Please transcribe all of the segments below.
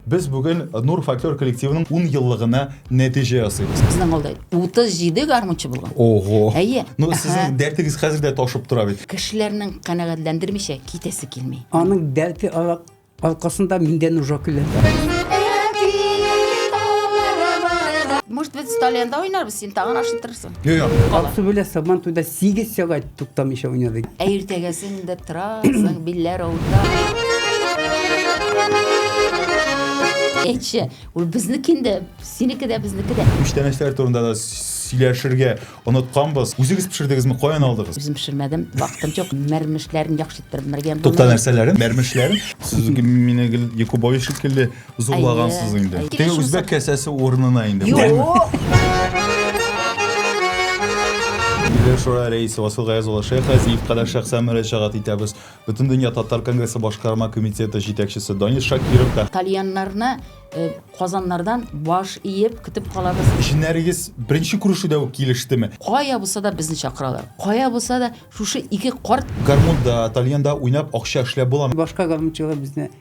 Без бүген Нур фольклор коллективының ун еллыгына нәтиҗә ясыйбыз. Безнең авылда 37 гармунчы булган. Ого! Әйе. Ну, сезнең дәртегез хәзер дә ташып тора бит. Кешеләрнең канәгатьләндермичә китәсе килми. Аның дәрте аркасында миндә нужа көлә. Может быть, столе янда уйнарбыз, син тагын ашыттырырсың. Юк, юк. Аксу белән Сабан туйда 8 сәгать туктамыйча уйнадык. Ә иртәгәсен дә торасың, билләр авырта. Әйтче, ул безнеке инде, синеке дә, безнеке дә. Күчтәнәчләр турында да сөйләшергә онытканбыз. Үзегез пешердегезме, каян алдыгыз? Үзем пешермәдем, вакытым юк. Мәрмешләрен яхшы иттереп мәргән. Тукта нәрсәләрен, мәрмешләрен. Сез мине гел Якубович шикелле Зурлагансыз Әйе, инде. әйе. Теге Килеш үзбәк булса- кәсәсе урынына инде. Юк! Милләр шура рәисе Васил Гаяз улы Шәйх Газиев кадәр шәхсән мөрәҗәгать итәбез. Бөтендөнья татар конгрессы башкарма комитеты җитәкчесе Данис Шакиров та Тальяннарны э, Казаннардан баш иеп көтеп калабыз. Җеннәрегез беренче күрешүдә үк килештеме? Кая булса да безне чакыралар. Кая булса да шушы ике карт Гармунда, тальянда уйнап акча эшләп буламы? Башка гармунчылар безне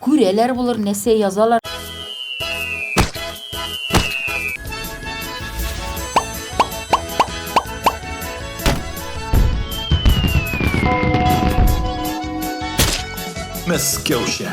Күрәләр булыр, нәрсә язалар. Мәскәүчә.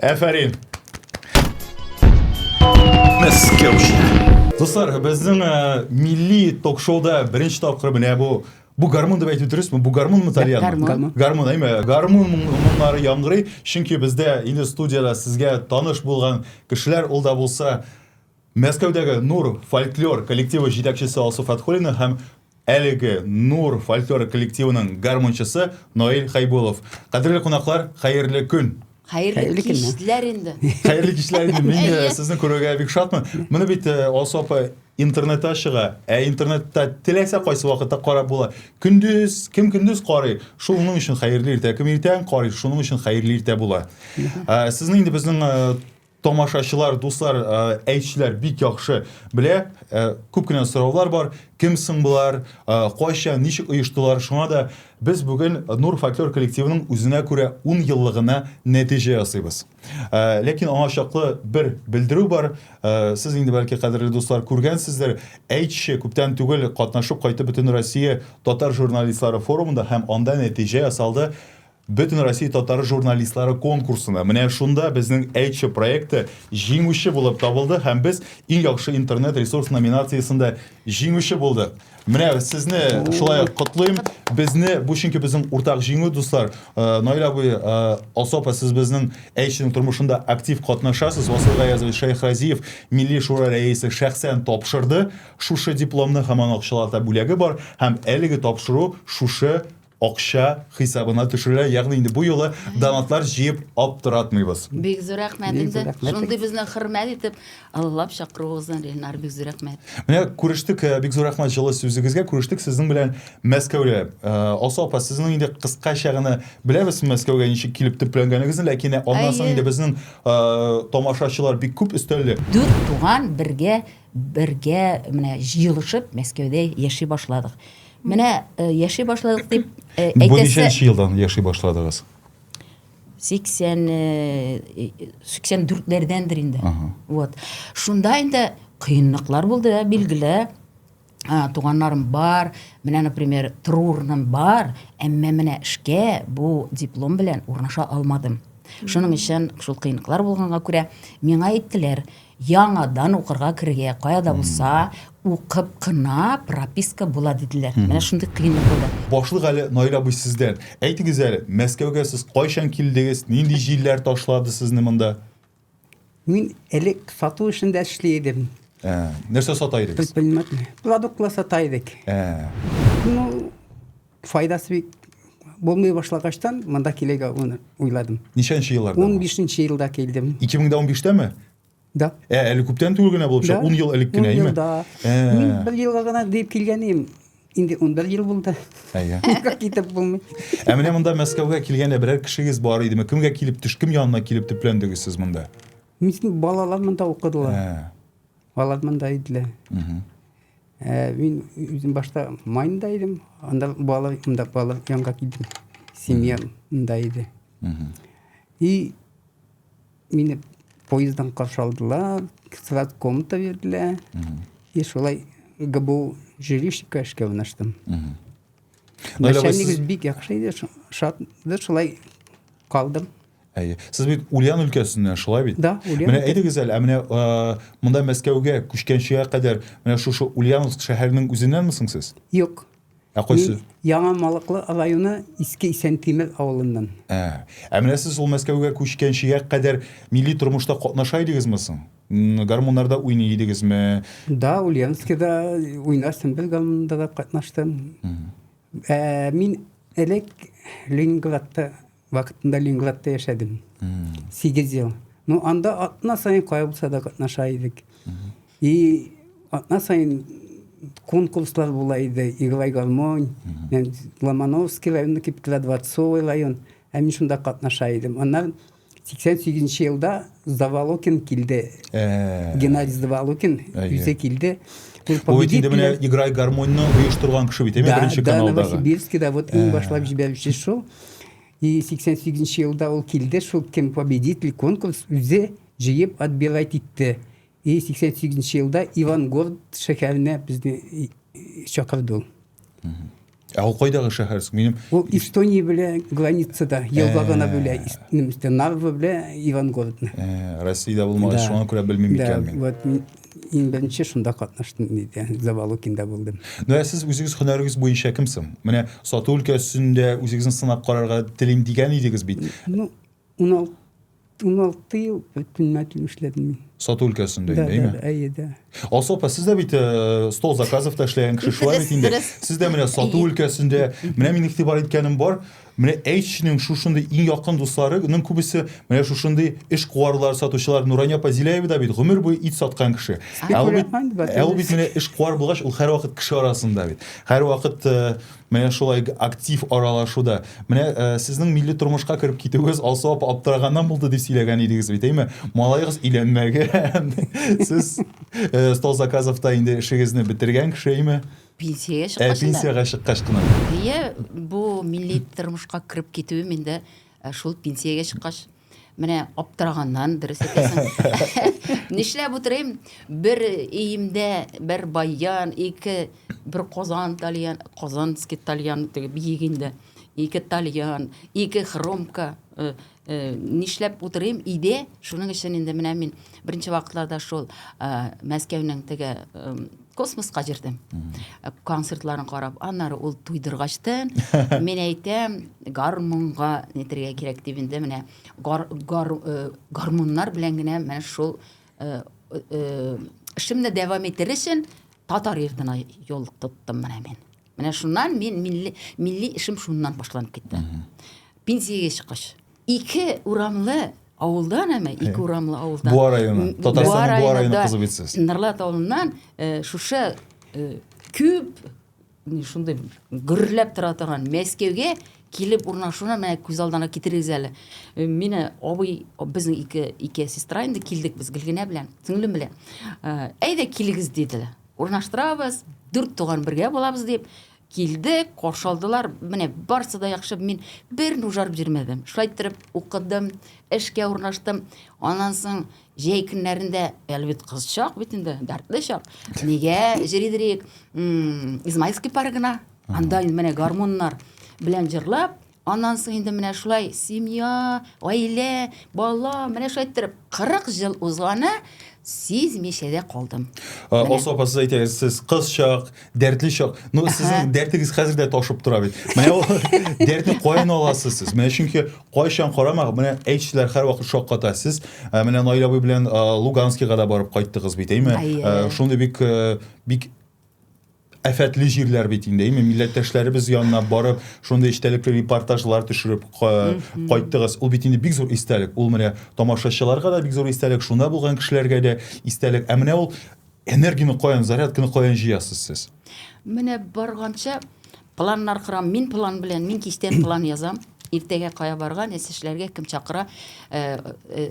Әфәрин! Дуслар, безнең ә, милли ток-шоуда беренче тапкыр менә бу Бу гармун дип әйтү дөресме? Бу гармунмы тальян? Гармун. Гармун, әйме. Гармун моңнары яңгырый, чөнки бездә инде студияда сезгә таныш булган кешеләр, ул да булса Мәскәүдәге Нур фольклор коллективы җитәкчесе Алсу Фәтхуллина һәм әлеге Нур фольклор коллективының гармунчысы Наил Хәйбулов. Кадерле кунаклар, хәерле көн! Хәерле Хәерле көнне. кичләр инде. Хәерле кичләр инде. Мин э, Әйе. сезне күрергә бик шатмын. Моны бит э, Алсу апа интернетта чыга. Ә интернетта теләсә кайсы вакытта карап була. Көндез, кем көндез карый, шул уның өчен хәерле иртә. Кем иртән карый, шуның өчен хәерле иртә була. Ә, Сезне инде безнең э, Тамашачылар, дуслар, әйтчеләр бик яхшы белә. Күп кенә сораулар бар. Кем соң болар? Кайча, ничек оештылар? Шуңа да без бүген Нур фольклор коллективының үзенә күрә 10 еллыгына нәтиҗә ясыйбыз. Ләкин аңа чаклы бер белдерү бар. Сез инде бәлки кадерле дуслар күргәнсездер. Әйтче күптән түгел катнашып кайтып Бөтенроссия татар журналистлары форумында һәм анда нәтиҗә ясалды. Бөтенроссия татар журналистлары конкурсына менә шунда безнең Әйтче проекты җиңүче булып табылды һәм без Иң яхшы интернет-ресурс номинациясендә җиңүче булдык. Менә сезне шулай ук котлыйм. Безне бу чөнки безнең уртак җиңү, дуслар. Э, Наил абый, э, Алсу апа, сез безнең Әйтченең тормышында актив катнашасыз. Васил Гаязович Шәйхразиев, Милли шура рәисе, шәхсән тапшырды шушы дипломны һәм аның акчалата бүләге бар һәм әлеге тапшыру шушы акча хисабына төшерелә. Ягъни инде бу юлы донатлар җыеп аптыратмыйбыз. Бик зур рәхмәт инде. Шундый безне хөрмәт итеп, Аллап чакыруыгыздан Ренар бик зур рәхмәт. Менә күрештек, э, бик зур рәхмәт җылы сүзегезгә. Күрештек сезнең белән Мәскәүдә. Э, Алсу апа, сезнең инде кыскача гына беләбез Мәскәүгә ничек килеп төпләнгәнегезне, ләкин аннан соң инде безнең э, тамашачылар бик күп өстәлле. Дүрт туган бергә Бергә менә җыелышып Мәскәүдә яши башладык. Менә э, яши башладык дип э, Бу әйтәсе ничәнче елдан яши башладыгыз? 80 э, 84-ләрдәндер инде. Ага. Вот. Шунда инде кыенлыклар булды, да, билгеле. А, туганнарым бар, менә, например, Трурным бар, әмма менә эшкә бу диплом белән урнаша алмадым. Шуның өчен шул кыенлыклар булганга күрә миңа әйттеләр, Яңадан укырга керергә, кая да булса, укып кына прописка була диделәр. Менә шундый кыенлык булды. Башлык әле Наил абый сездән. Әйтегез әле, Мәскәүгә сез кайчан килдегез, нинди җилләр ташлады сезне монда? Мин элек сату эшендә эшли идем. Ә, нәрсә сата идегез? Предприниматель. Продуктлар сата идек. Ә. Ну, файдасы бик булмый башлагачтан монда килергә уйладым ничәнче елларда ун бишенче елда килдем ике мең дә унбиштәме да ә әле күптән түгел генә булып чыга ун ел элек кенә әйме да мин бер елга гына дип килгән идем инде он бер ел булды әйе китеп булмый ә менә монда мәскәүгә килгәндә берәр кешегез бар идеме кемгә килеп төш кем янына килеп төпләндегез сез монда балалар монда укыдылар алар монда иделәр Ә, мин үзем башта Майнда идем, анда бала, анда бала янга килдем. Семья монда иде. И мине поезддан каршы алдылар, сразу комната бирделәр. И шулай ГБУ жилищника эшкә урнаштым. Начальник бик яхшы иде, шат, шулай калдым. Әйе. Сез бит Ульян өлкәсеннән, шулай бит? Да, Ульян. Менә әйдегез әле, ә менә монда Мәскәүгә күчкәнчегә кадәр менә шушы Ульяновск шәһәренең үзеннәнме соң сез? Юк. Ә кайсы? Яңа Малыклы районы Иске Исәнтимер авылыннан. Ә, ә менә сез ул Мәскәүгә күчкәнчегә кадәр милли тормышта катнаша идегезме соң? Гармуннарда уйный идегезме? Да, Ульяновскида уйнастым, бер гармунда да катнаштым. Ә мин элек Ленинградта Вакытында Ленинградта яшәдем. Сигез ел. Ну, анда атна сайын кая булса да катнаша идек. И атна сайын конкурслар була иде. Играй гармонь, Ломановский районы киптелә, Дворцовый район. Ә мин шунда катнаша идем. Аннан 88 елда Завалокин килде. Э. Геннадий Завалокин үзе килде. Ул бит инде менә Играй гармоньны оештырган кеше бит, әйме, беренче каналдагы. Да, Новосибирскида вот иң э. башлап җибәрүче шул. И 88 нче елда ул килде, шул кем победитель конкурс үзе җыеп отбирать итте. И 88 нче елда Ивангород шәһәренә безне чакырды ул. Ә ул кайдагы шәһәр? Минем Ул Эстония белән границада, елга гына э. бүлә, Нарва белән Ивангородны. Э, Россиядә булмагач, шуңа күрә белмим икән мин. Да, вот Иң беренче шунда катнаштым, диде. Завалукинда булдым. Ну, ә сез үзегез һөнәрегез буенча кем соң? Менә сату өлкәсендә үзегезне сынап карарга телим дигән идегез бит. Ну, 16 16 ел предприниматель эшләдем мин. Сату өлкәсендә да, инде, да, әйе дә. Алсу апа, сез дә бит э, стол заказов та эшләгән кеше шулай бит инде. Сез дә менә сату өлкәсендә, менә мин игътибар иткәнем бар, Менә әйтченең шушындый иң якын дусларының күбесе менә шушындый эш куарлар, сатучылар. Нурания апа Зиляева да бит гомер буе ит саткан кеше. Ә ул бит, ә ул бит менә эш куар булгач, ул һәрвакыт кеше арасында бит. Һәрвакыт э, менә шулай актив аралашуда. Менә э, сезнең милли тормышка кереп китүегез Алсу апа аптыраганнан булды дип сөйләгән идегез бит, әйме? Малаегыз өйләнмәгән. Сез э, стол заказовта инде эшегезне бетергән кеше, әйме? Пенсиягә Ә чыккач инде. пенсиягә чыккач кына. Әйе, бу милли тормышка кереп китүем инде э, шул пенсиягә чыккач менә аптыраганнан дөрес әйтәсең. Нишләп утырыйм? Бер өемдә бер баян, ике бер казан тальян, казанский тальян теге биек инде. Ике тальян, ике хромка, э, Э, нишләп утырыйм иде шуның өчен инде менә мин беренче вакытларда шул э, мәскәүнең теге э, космоска җирдем концертларын карап аннары ул туйдыргачтын мин әйтәм гармунга нетергә кирәк дип инде менә гар, гар, гармуннар белән генә менә шул эшемне дәвам итер өчен татар йортына юл тоттым менә мин Менә шуннан мин милли, милли эшем шуннан башланып китте. Пенсиягә чыккач, ике урамлы авылдан әмә ике э, урамлы авылдан. Буа районы. Татарстанның Буа районы кызы бит сез. Нырлат авылыннан э, шушы э, күп шундый гөрләп тора торган Мәскәүгә килеп урнашуына менә күз алдына китерегез әле. Мине абый безнең ике ике сестра инде килдек без Гөлгенә белән, сеңлем белән. Әйдә килегез диделәр. Урнаштырабыз, дүрт туган бергә булабыз дип килдек, каршы алдылар. Менә барсы да яхшы, мин берни ужарып йөрмәдем. Шулай иттереп укыдым, эшкә урнаштым. Аннан соң җәй көннәрендә, әле бит кыз чак бит инде, дәртле чак. Нигә җырыйдырыйк? Измайловский паргына. Анда менә гармуннар белән җырлап, Аннан соң инде менә шулай семья, гаилә, бала, менә шулай иттереп 40 ел узганы сизмичә дә калдым. Алсу апа, сез әйтегез, сез кыз чак, дәртле чак. Ну, сезнең дәртегез хәзер дә ташып тора бит. Менә ул дәртне каян аласыз сез? Менә чөнки кайчан карама, менә әйтүчеләр һәрвакыт шакката. Сез менә Наил абый белән Луганскига да барып кайттыгыз бит, әйме? Шундый бик бик Афәтле җирләр бит инде, әйме, милләттәшләребез янына барып, шундый эчтәлекле репортажлар төшереп кайттыгыз. Ул бит инде бик зур истәлек. Ул менә тамашачыларга да бик зур истәлек, шунда булган кешеләргә дә истәлек. Ә менә ул энергияне каян, зарядканы каян җыясыз сез? Менә барганча планнар корам. Мин план белән, мин кичтән план язам. Иртәгә кая барга, нәрсә эшләргә, кем чакыра,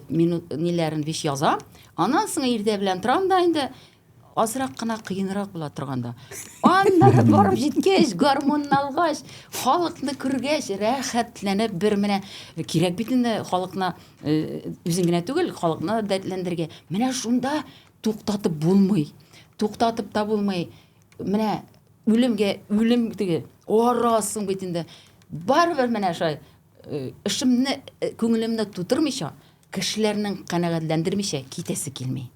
минут ниләрен биш язам. Аннан соң иртә белән торам да инде азрак кына кыенрак була торганда аннары барып җиткәч гармунны алгач халыкны күргәч рәхәтләнеп бер менә кирәк бит инде халыкны үзең генә түгел халыкны дәртләндерергә менә шунда туктатып булмый туктатып та булмый менә үлемгә үлем теге арасың бит инде барыбер менә шулай эшемне күңелемне тутырмыйча Кешеләрнең канәгатьләндермичә китәсе килми.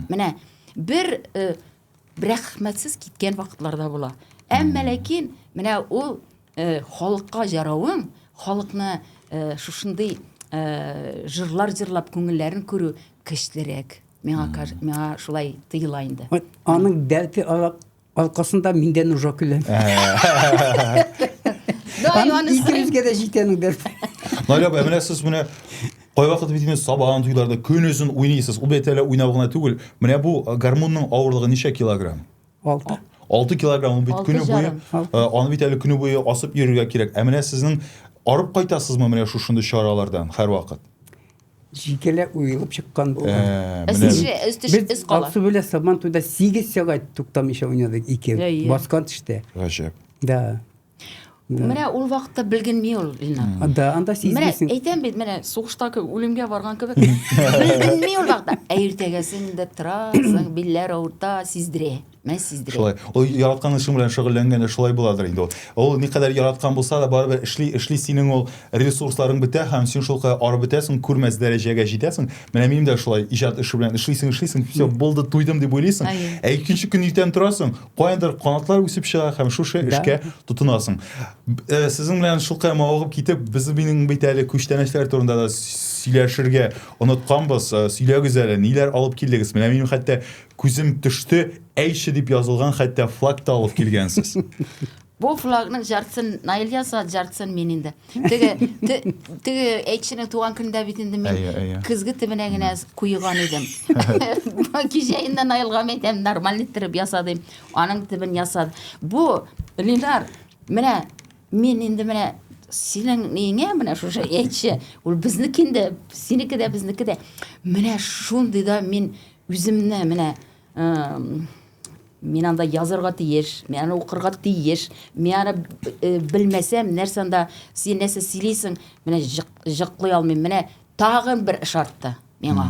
Менә бер э, рәхмәтсез киткән вакытларда була. Әмма ләкин менә ул э, халыкка җаравың, халыкны э, шушындый э, жырлар җырлап күңелләрен күрү көчлерәк. Миңа миңа шулай тоела инде. Вот аның дәрте алак Алкасында миндә нужа көләм. Икебезгә дә җитәнү дәрт. Наля апа, менә сез менә кайвакыт бит инде сабан туйларда көнөзен уйныйсыз. Ул бит әле уйнау гына түгел. Менә бу гармунның авырлыгы ничә килограмм? 6. 6 килограмм бит көне буе. Аны бит әле көне буе асып йөрергә кирәк. Ә менә сезнең арып кайтасызмы менә шушындый чаралардан һәрвакыт? Җикеле уелып чыккан булган. Ә, менә Өстеше, бит. өстеше Без өс кала. Аксу белән Сабантуйда 8 сәгать туктамыйча уйнадык ике. Әйе. Баскан төштә. Гаҗәп. Да. Да. Менә ул вакытта белгенми ул Ленар. А, Да, анда Менә сизмисең. әйтәм бит, менә сугышта кебек, үлемгә барган кебек. Белгенми ул вакытта. Ә иртәгәсен дә торасың, билләр авырта, сиздерә. Мен сиздирәм. Шулай. Ул яраткан эшең белән шөгыльләнгәндә шулай буладыр инде ул. Ул никадәр яраткан булса да, барыбер эшли, эшли синең ул ресурсларың бетә һәм син шулкадәр арып бетәсең, күрмәс дәрәҗәгә җитәсең. Менә минем дә шулай иҗат эше белән эшлисең, эшлисең, все, булды, туйдым дип уйлыйсың. Әйе. Ә икенче көн иртән торасың, каяндыр канатлар үсеп чыга һәм шушы Да. эшкә тотынасың. Б- э, Сезнең белән шулкадәр мавыгып китеп, без минем бит әле күчтәнәчләр турында да сөйләшергә онытканбыз. Э, Сөйләгез әле, ниләр алып килдегез? Менә минем хәтта Күзем төште, әйше дип язылган хәтта флаг та алып килгәнсез. Бу флагның жартысын Наил яса, жартысын мин инде. Теге теге әйтшенең туган көндә бит инде мин көзге төбенә генә куйган идем. Кичә инде Наилга әйтәм, нормаль иттереп яса дим. Аның төбен ясады. Бу Линар, менә мин инде менә синең неңә менә шушы әйтче. Ул безнеке инде, синеке дә безнеке дә. Менә шундый да мин Үземне менә мин анда язарга тиеш, мин аны укырга тиеш, мин аны э, белмәсәм, нәрсә анда син нәрсә сөйлисең, менә җыклый алмыйм. Менә тагын бер эш артты миңа.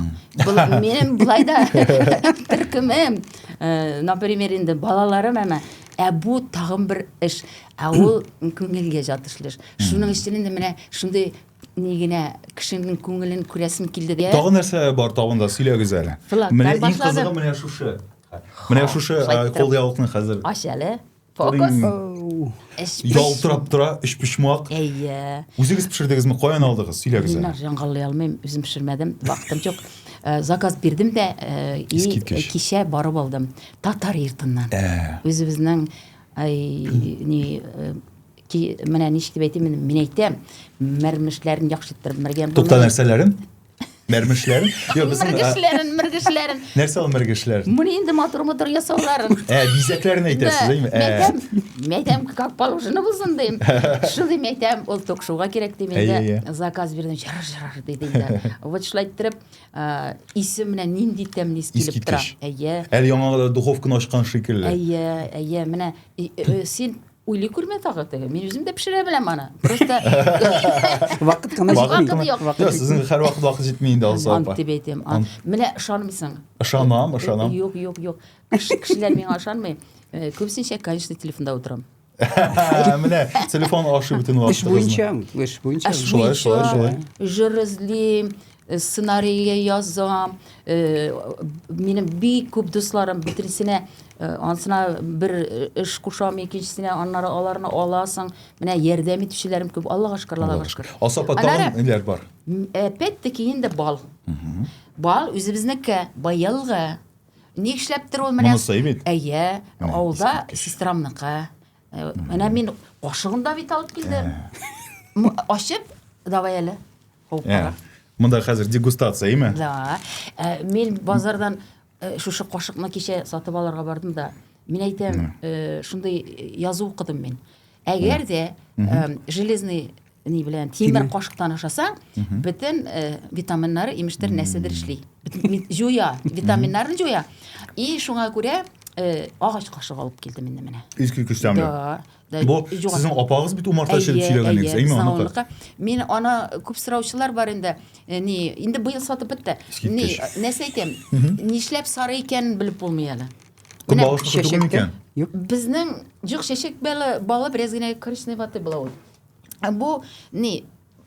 Минем былай да төркемем, э, например, инде балаларым әмә ә бу тагын бер эш. Ә ул күңелгә ятышлы эш. Шуның өчен инде менә шундый Ни генә кешенең күңелен күрәсем килде дә. Тагын нәрсә бар табында, сөйләгез әле. Менә иң кызыгы менә шушы. Менә шушы кулъяулыкны хәзер. Ач әле. Фокус. Ялтырап тора, өчпочмак. Әйе. Үзегез пешердегезме, каян алдыгыз? Сөйләгез әле. Мин җангалый алмыйм, үзем пешермәдем, вакытым юк. Заказ бирдем дә, кичә барып алдым. Татар йортыннан. Үзебезнең, ай, ни, Ки, менә ничек дип әйтим, мин әйтәм, мәрмешләрен яхшы иттереп мәргән. Тукта нәрсәләрен? Мәрмешләрен? Йо, безнең мәргешләрен, мәргешләрен. Нәрсә ул мәргешләр? Моны инде матур матур ясауларын. Ә, бизәкләрен әйтәсез, әйме? Ә. Мәйтәм, мәйтәм, как положено булсын дим. Шулай мәйтәм, ул ток шоуга кирәк дип инде заказ бирдем, җырыр җырыр диде инде. Вот шулай иттереп, исе менә нинди тәмле ис килеп тора. Әйе. Әле яңа духовканы ачкан шикелле. Әйе, әйе, менә син Уйлый күрмә тагы теге. Мин үзем дә пешерә беләм аны. Просто вакыт кына җитми. Вакыт юк. Сезнең хәр вакыт вакыт җитми инде алса апа. Ант дип әйтәм. Менә ышанмыйсың. Ышанам, ышанам. Юк, юк, юк. Кешеләр миңа ышанмый. Э, Күбесенчә, конечно, телефонда утырам. Менә телефон ашы бөтен вакытыгызны. Эш буенча, эш буенча. Шулай, шулай, шулай. Җыр эзлим, Сценарийы язам. Минем бик күп дусларым бөтенесенә ансына бер эш кушам, икенчесенә, аннары аларны аласың. Менә ярдәм итүчеләрем күп. Аллага шөкер, Аллага шөкер. Алса апа, тагын ниләр бар? Әпәт-тәки инде бал. Бал үзебезнеке, быелгы. Ни эшләптер ул менә? Монысы бит. Әйе, авылда сестрамныкы. Менә мин кашыгын да бит алып килдем. Ачып, давай әле. Ул кара. Монда хәзер дегустация, әйме? Да. Э, мин базардан э, шушы кашыкны кичә сатып алырга бардым да, мин әйтәм, э, шундый язу укыдым мин. Әгәр дә железный ни белән тимер кашыктан ашасаң, бөтен витаминнары, имештер, нәрсәдер эшли. Җуя, витаминнарны җуя. И шуңа күрә агач кашык алып килдем инде менә. Искиткеч тәмле. Да. бу сезнең апагыз бит умарта чиреп сөйләгән идегез әйме аныкы мин аны күп сораучылар бар инде э, ни инде быел сатып бетте ни нәрсә әйтәм нишләп сары икәнен белеп булмый әле көнбагыш түгелме икән безнең юк чәчәк балы балы бераз генә коричневатый була ул бу ни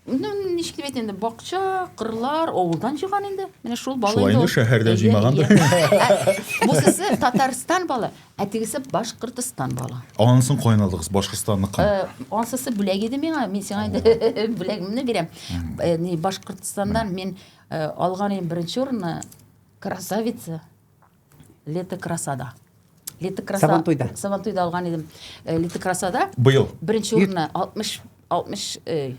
Ну, ничек дип әйтәм инде, бакча, кырлар, авылдан җыйган инде. Менә шул бала Шулай инде шәһәрдә җыймагандыр. Бусысы Татарстан бала, ә тегесе Башкортстан бала. Ансын кайнадыгыз Башкортстанныкы. Э, Ансысы бүләк иде миңа, мин сиңа инде бүләгемне бирәм. Э, ни, Башкортстаннан мин э, алган идем беренче урынны, красавица. Лето красада. Лето краса... Сабантуйда. Сабантуйда алган идем. Э, Лето красада. Быел. Беренче урынны 60 60 э,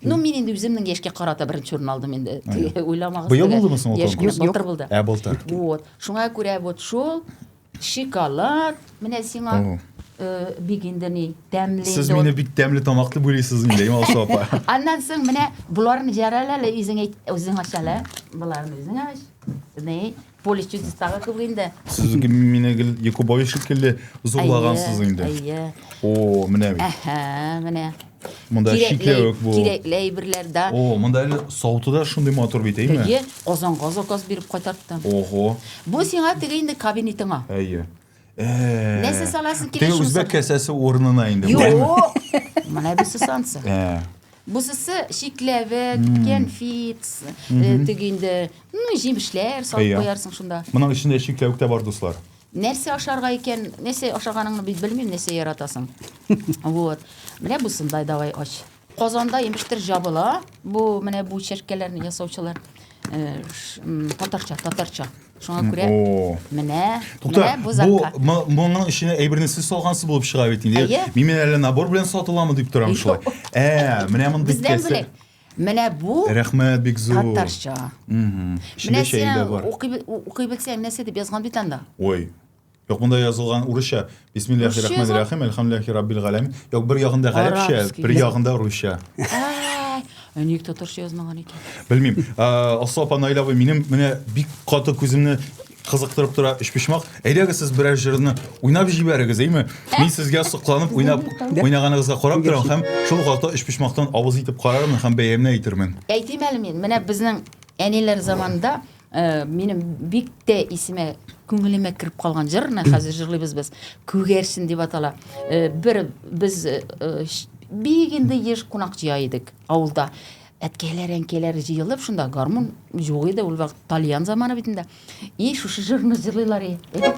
Ну, мин инде үземнең яшькә карата беренче урын алдым инде. Уйламагыз. Быел булдымы соң ул конкурс? Былтыр булды. Ә былтыр. Вот. Шуңа күрә вот шул шоколад менә сиңа э, бик инде ни тәмле. Сез мине бик тәмле тамаклы бүлисез инде, Ималсу апа. Аннан соң менә боларны җәрәләле үзең әйт, үзең ачале. Боларны үзең ач. Ни? Полис чистотага күп инде. Сез гел мине гел Якубович шикелле зурлагансыз Әйе, инде. Әйе. О, менә бит. Әһә, менә. Монда Кирәкле- чикләвек бу. Кирәкле әйберләр дә. О, монда әле сауты да шундый матур бит, әйме? Әйе, Казанга заказ биреп кайтарттым. Ого. Бу сиңа теге инде кабинетыңа. Әйе. нәрсә саласы килә теге үзбәк кәсәсе урынына инде юк менә бусы сансы бусысы шикләвек кәнфит теге инде ну җимешләр салып куярсың шунда моның эчендә шикләвек тә бар дуслар нәрсә ашарга икән нәрсә ашаганыңны бит белмим нәрсә яратасың вот менә бусындай давай ач Казанда имештер җабыла бу менә бу чәркәләрне ясаучылар татарча татарча шуңа күрә менә менә бу заказ моның эченә әйберне сез салгансыз булып чыга бит инде мин әле набор белән сатыламы дип торам шулай ә менә мондый бездән бүләк менә бу рәхмәт бик зур татарча менә син укый белсәң нәрсә дип язган бит анда ой Юк, монда язылган урысча. Бисмиллахи рахмани рахим, әлхәмдүлиллахи раббил галәмин. Юк, бер ягында гарәпчә, бер ягында русча. Ә ник татарча язмаган икән? Белмим. Асыл апа Наилә абый, минем менә бик каты күземне кызыктырып тора өчпочмак. Әйдәгез сез берәр җырны уйнап җибәрегез, әйме? Мин сезгә сокланып уйнап уйнаганыгызга карап торам һәм шул вакытта өчпочмактан авыз итеп карармын һәм бәямне әйтермен. Әйтим әле мин, менә безнең әниләр заманында Э, минем бик тә исемә күңелемә кереп калган җыр менә хәзер җырлыйбыз без күгәрчен дип атала э, бер без э, бик инде еш кунак җыя идек авылда әткәйләр әнкәйләр җыелып шунда гармун юк иде ул вакыт тальян заманы бит инде и шушы җырны җырлыйлар и әйтеп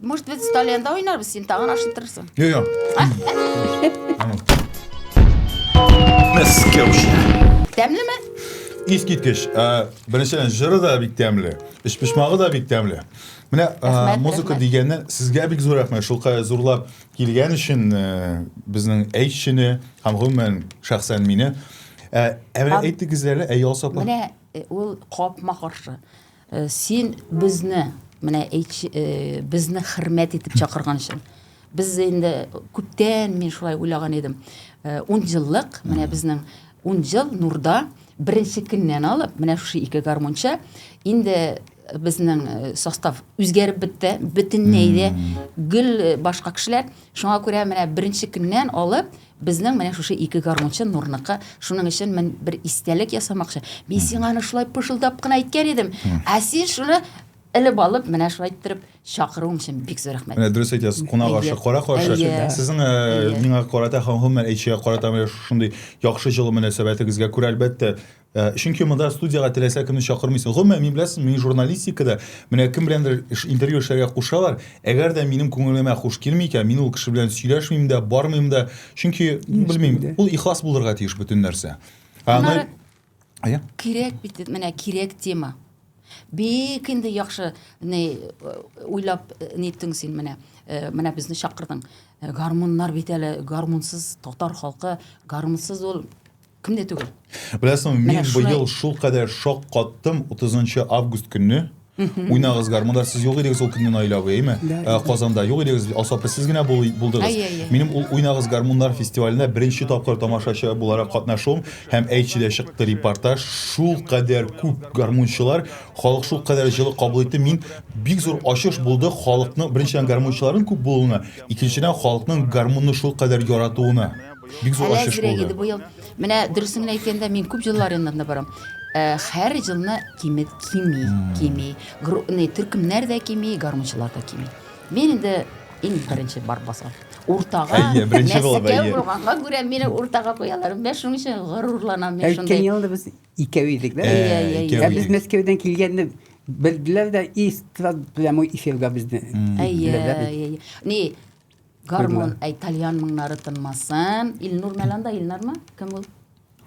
Может, без сталианда уйнарбыз, син тагын ашып торырсың. Йо, йо. Тәмлеме? Ис киткеч. Беренчедән, жыры да бик тәмле, эш пешмагы да бик тәмле. Менә музыка дигәнне сезгә бик зур рәхмәт. Шулкадәр зурлап килгән өчен безнең әйтчене һәм гомумән шәхсән мине. Ә әйтегез әле, әй Алсапа. Менә ул капма каршы. Син безне, менә безне хөрмәт итеп чакырган өчен. Без инде күптән мин шулай уйлаган идем. Ун еллык, менә безнең ун ел нурда беренче көннән алып, менә шушы ике гармунча инде безнең э, состав үзгәреп бетте бөтенләй дә гел э, башка кешеләр шуңа күрә менә беренче көннән алып Безнең менә шушы ике гармунчы Нурныкы, шуның өчен мин бер истәлек ясамакчы. Мин сиңа аны шулай пышылдап кына әйткән идем, ә син шуны элеп алып, менә шулай иттереп чакыруың өчен бик зур рәхмәт. Менә дөрес әйтәсез, кунак ашы, кара каршы. Сезнең миңа карата һәм гомумән әйтчегә карата менә шушындый яхшы җылы мөнәсәбәтегезгә күрә, әлбәттә, Э, чөнки монда студияга теләсә кемне чакырмыйсың гомумән мин беләсең мин журналистикада менә кем беләндер интервью эшләргә кушалар әгәр дә минем күңелемә хуш килми икән мин ул кеше белән сөйләшмим дә бармыйм да чөнки белмим ул ихлас булырга тиеш бөтен нәрсә кирәк бит менә кирәк тема бик инде яхшы не э, уйлап э, ниттең син менә менә безне чакырдың гармуннар бит әле гармунсыз татар халкы гармунсыз ул Кем дә түгел. Беләсең, мин Менә шулай- быел шул кадәр шок каттым 30 август көнне. Уйнагыз гармунда, сез юк идегез ул көнне Наилә абый, әйме? Да, Ә, да. Казанда юк идегез, Асапы сез генә бул- булдыгыз. Әйе, әйе. Минем ул Уйнагыз гармуннар фестиваленә беренче тапкыр тамашачы буларак катнашуым һәм әйтче дә чыкты репортаж. Шул кадәр күп гармунчылар, халык шул кадәр җылы кабул итте. Мин бик зур ачыш булды халыкның беренчедән гармунчыларның күп булуына, икенчедән халыкның гармунны шул кадәр яратуына. Бик зур ачыш булды. Быел менә дөресен генә әйткәндә, мин күп җыллар янында барам. Э, һәр җылны кимет кими, кими. Груны төркемнәр дә кими, гармунчылар да кими. Мин инде иң беренче бар басам. Уртага, әйе, беренче булып, әйе. Булганга күрә мине уртага куялар. Мен шуның өчен горурланам мин шундый. Әйткән елда без икәү идек, да? Әйе, әйе, әйе. Без Мәскәүдән килгәнне белделәр дә, и, прямо эфирга безне. Әйе, әйе. Ни, Гармон, әй, тальян мыңнары тынмасын. Илнур Мәланда, Илнармы? Кем ул?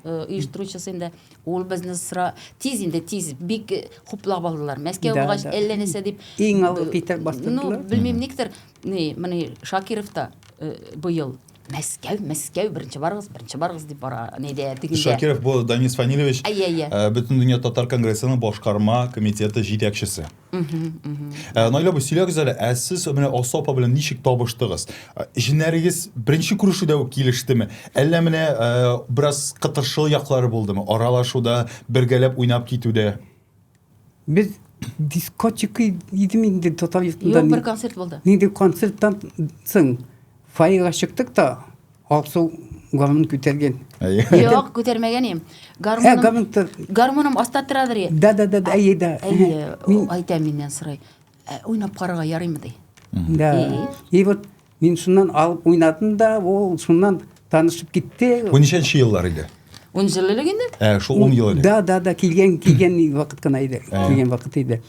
Э, оештыручысы инде ул безне сра тиз инде тиз бик э, хуплап алдылар мәскәү булгач әллә нәрсә дип иң алгы э, китеп бастырдылар ну белмим никтер ни менә шакиров та быел мәскәү мәскәү беренче барыгыз беренче барыгыз дип бара нидә тегендә шакиров бу данис фанилевич әйе әйе бөтен дөнья татар конгрессының башкарма комитеты җитәкчесе Э, Наилә бу сөйләгез әле, ә сез менә Алсу апа белән ничек табыштыгыз? Э, Җеннәрегез беренче күрешүдә үк килештеме? Әллә менә э, бераз кытыршыл яклары булдымы? Аралашуда, бергәләп уйнап китүдә. Без дискотека идем инде татар йортында. Юк, бер концерт булды. Нинди концерттан соң Фаига чыктык та, Аксу гармун күтәргән. Юк, күтәрмәгән идем. Гармуным. Ә гармун тор. Гармуным аста торадыр. Да, да, да, әйе да. Әйе, айта миннән сорый. Ә, уйнап карарга ярыймы ди. Да. И вот мин шуннан алып уйнадым да, ул шуннан танышып китте. Бу ничәнче еллар иде? Он жыл элек инде? Ә, шул 10 ел элек. Да, да, да, килгән, килгән вакыт кына иде. Килгән вакыт иде.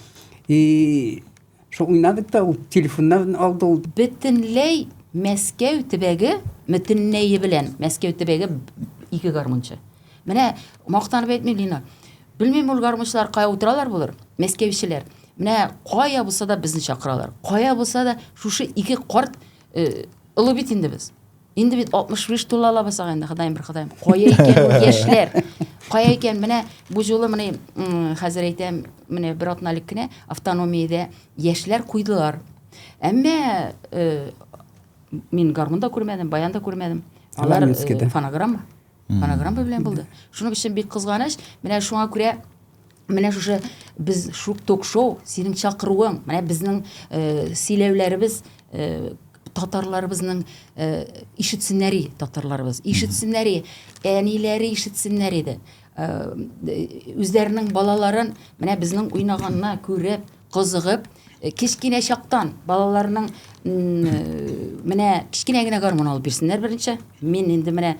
И Шо уйнадык та ул телефоннан алды ул. Бөтенләй Мәскәү төбәге бөтенләе белән Мәскәү төбәге ике гармунчы. Менә мактанып әйтмим, Лина. Белмим ул гармунчылар кая утыралар булыр, мәскәүчеләр. Менә кая булса да безне чакыралар. Кая булса да шушы ике карт э, олы бит инде без. Инде бит 65 тула алабыз ага инде, Ходаем бер Ходаем. Кая икән ул яшьләр? Кая икән? Менә бу юлы менә хәзер әйтәм, менә бер атна элек кенә автономиядә яшьләр куйдылар. Әмма э, мин гармунда күрмәдем, баянда күрмәдем. Алар э, фонограмма. Фонограмма белән булды. Шуның өчен бик кызганыч, менә шуңа күрә менә шушы без шук ток-шоу, синең чакыруың, менә безнең э, сөйләүләребез э, татарларыбызның э, ишетсеннәри татарларыбыз, ишетсеннәри, әниләре ишетсеннәр иде. Э, үзләренең балаларын менә безнең уйнаганна күреп, кызыгып, кечкенә чактан балаларның менә кечкенә генә гармун алып бирсеннәр беренче. Мин инде менә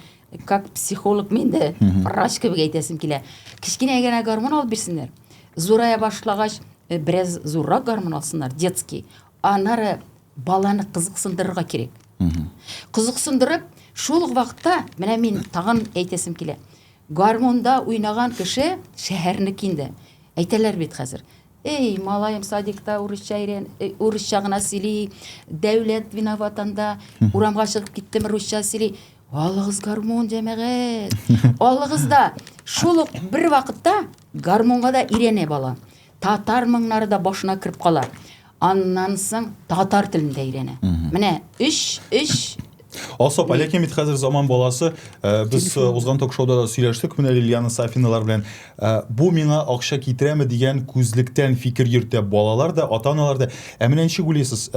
как психолог мин дә врач кебек әйтәсем килә. Кечкенә генә гармун алып бирсеннәр. Зурая башлагач, э, бераз зуррак гармун алсыннар, детский. Анары баланы кызыксындырырга кирәк. Кызыксындырып, шул ук вакытта менә мин тагын әйтәсем килә. Гармунда уйнаган кеше шәһәрнеке инде. Әйтәләр бит хәзер. Эй, малаем, садикта урысча өйрән, э, урысча гына сөйли, дәүләт виноват анда, урамга чыгып киттем, русча сөйли. Алыгыз гармун, җәмәгать. Алыгыз да, шул ук бер вакытта гармунга да өйрәнә бала. Татар моңнары да башына кереп кала. Аннан соң татар телен дә өйрәнә. Менә 3 3 Асап, Алеке бит хәзер заман баласы. Э, без э, узган ток-шоуда да сөйләштек менә Лилиана Сафиналар белән. Э, бу миңа акча китерәме дигән күзлектән фикер йөртә балалар да, ата-аналар да. Ә менә ничек уйлыйсыз?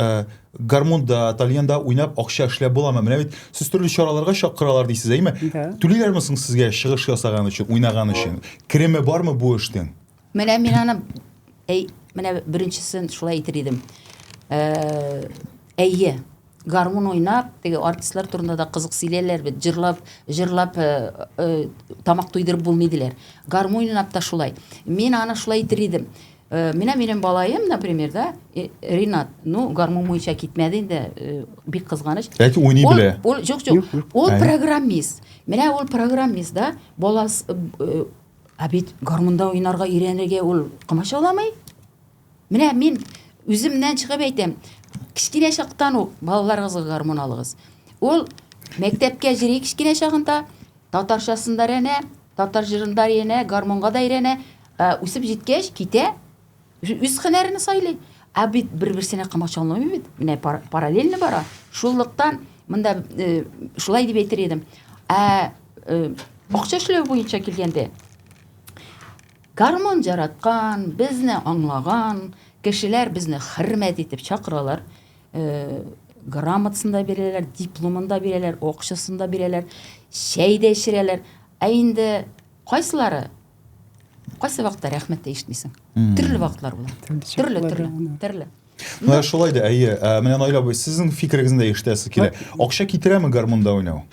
Гармунда, тальянда уйнап акча эшләп буламы? Менә бит сез төрле чараларга чакыралар дисез, әйме? Түлиләрме соң сезгә чыгыш ясаган өчен, уйнаган өчен? Кереме бармы бу эштең? Менә мин аны әй, менә беренчесен шулай әйтер идем. Э, әйе, гармун уйнап, теге артистлар турында да кызык сөйләләр бит, җырлап, җырлап э, э, тамак туйдырып булмый диләр. Гармун уйнап та шулай. Мин аны шулай әйтер идем. Э, менә минем балаем, например, да, э, Ринат, ну, гармун буенча китмәде инде, э, бик кызганыч. Ләкин уйный Ул- белә. Ул, юк, юк, ул Әйе. программист. Менә ул программист, да, балас, э, э, Ә бит гармунда уйнарга өйрәнергә ул комачауламый. Менә мин үземнән чыгып әйтәм, кечкенә чактан ук балаларыгызга гармун алыгыз. Ул мәктәпкә җыри кечкенә чагында, татарчасын да өйрәнә, татар җырын да өйрәнә, гармунга да өйрәнә. Үсеп җиткәч, китә, Үз һөнәрен сайлый. Ә бит бер-берсенә комачауламый бит. Менә параллельно бара. Шуллыктан монда э, шулай дип әйтер идем. Ә э, акча эшләү буенча килгәндә гармон жараткан, безне аңлаган кешеләр безне хөрмәт итеп чакыралар. Э, грамотасын да бирәләр, дипломын да бирәләр, акчасын да бирәләр, чәй дә эчерәләр. Ә инде кайсылары кайсы вакытта рәхмәт тә ишетмисең төрле вакытлар була төрле төрле төрле менә шулай да әйе ә, менә наил абый сезнең фикерегезне дә ишетәсе килә акча китерәме гармунда уйнау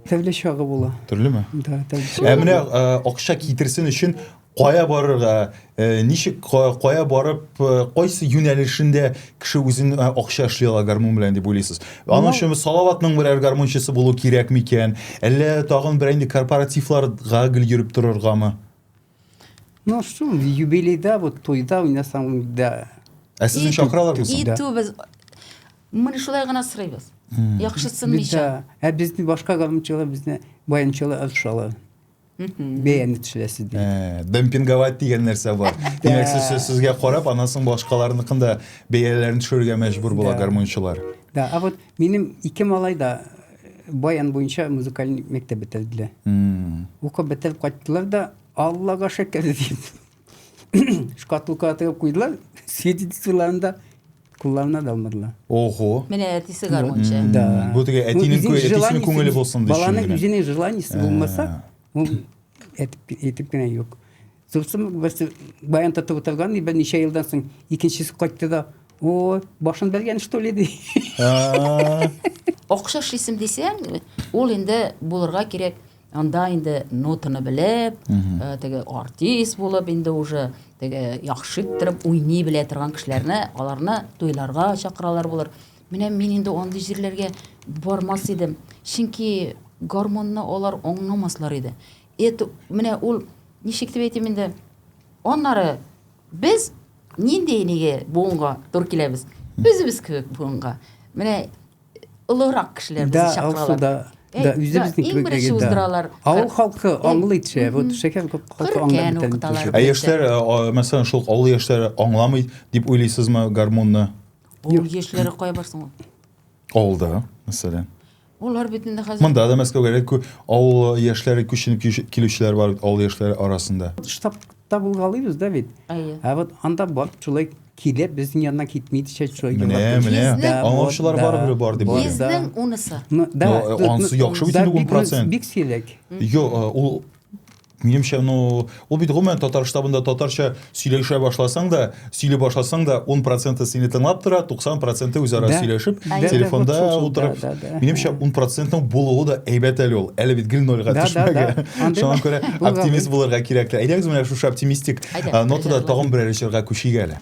төрле чагы була төрлеме да ә менә акча китерсен өчен кая барырга Э, ничек кая барып э, кайсы юнәлешендә кеше үзен э, акча эшли ала гармун белән дип уйлыйсыз аның өчен салаватның берәр гармунчысы булу кирәк микән әллә тагын бер инде корпоративларга гел йөреп торыргамы ну шул юбилейда вот тойда уйнасаң да ә сезне чакыралармы итүбез міне шулай гына сорыйбыз яхшысын мичә ә безне башка гармунчылар безне баянчылар ышалар бәяне төшерәсез ди ә, демпинговать дигән нәрсә бар димәк сез сөз сүзгә карап аннан соң башкаларныкын да бәяләрен төшерергә мәҗбүр була гармунчылар да а вот минем ике малай да э, баян буенча музыкаль мәктәп бетерделәр укып бетереп кайттылар да аллага шөкер дип Шкатулка атып куйдылар, сидит суларында кулларына да алмадылар. Ого. Менә әтисе гармунчы. Да. Бу теге әтинең ну, әтисенең күңеле булсын дип. Баланың үзенең желаниесе э. булмаса, ул әтеп әтеп кенә юк. Сосын без баян тотып утырган, и берничә елдан соң икенчесе кайтты да, о, башын бәргән что ли ди. Акча эшлисем дисәң, ул инде булырга кирәк Анда инде нотаны белеп, э, теге артист булып инде уже теге яхшы иттереп уйный белә торган кешеләрне, аларны туйларга чакыралар булыр. Менә мин инде андый җирләргә бармас идем, чөнки гармонны алар аңламаслар иде. Это менә ул ничек дип әйтим инде. Аннары без нинди неге буынга тур киләбез? Үзебез кебек буынга. Менә олыграк кешеләр безне чакыралар. Да, да, да, үзебезнең кебек беренче уздыралар. Авыл халкы аңлый төшә, вот шәһәр халкы аңлый бетә. Ә яшьләр, мәсәлән, шул авыл яшьләре аңламый дип уйлыйсызмы гармунны? Авыл яшьләре кая барсын ул? Авылда, мәсәлән. Улар бит инде хәзер. Монда да Мәскәүгә кү авыл яшьләре күченеп килүчеләр бар бит авыл яшьләре арасында. Штаб Табылгалыйбыз да бит. Әйе. Ә вот анда барып шулай килә, безнең янына китми дичә шулай Менә, югалтып менә. йөрсен. Да, Аңлаучылар вот, барыбер бар дип да. уйлыйм. Да. Безнең унысы. Ну, да, Ну, э, ну, анысы ну, яхшы бит да, инде бик- 10%. Бик сирәк. Йо, э, ул минемчә, ну, ул бит гомумән татар штабында татарча сөйләшә башласаң да, сөйли башласаң да 10 проценты сине тыңлап тора 90 проценты үзара да. сөйләшеп а телефонда да, утырып да, да, да. минемчә 10 процентның булуы да әйбәт әле ул әле бит гел нольга да, төшмәгән да, да. шуңа күрә оптимист булырга кирәк лә әйдәгез менә шушы оптимистик нотада тагын берәр җырга күчик әле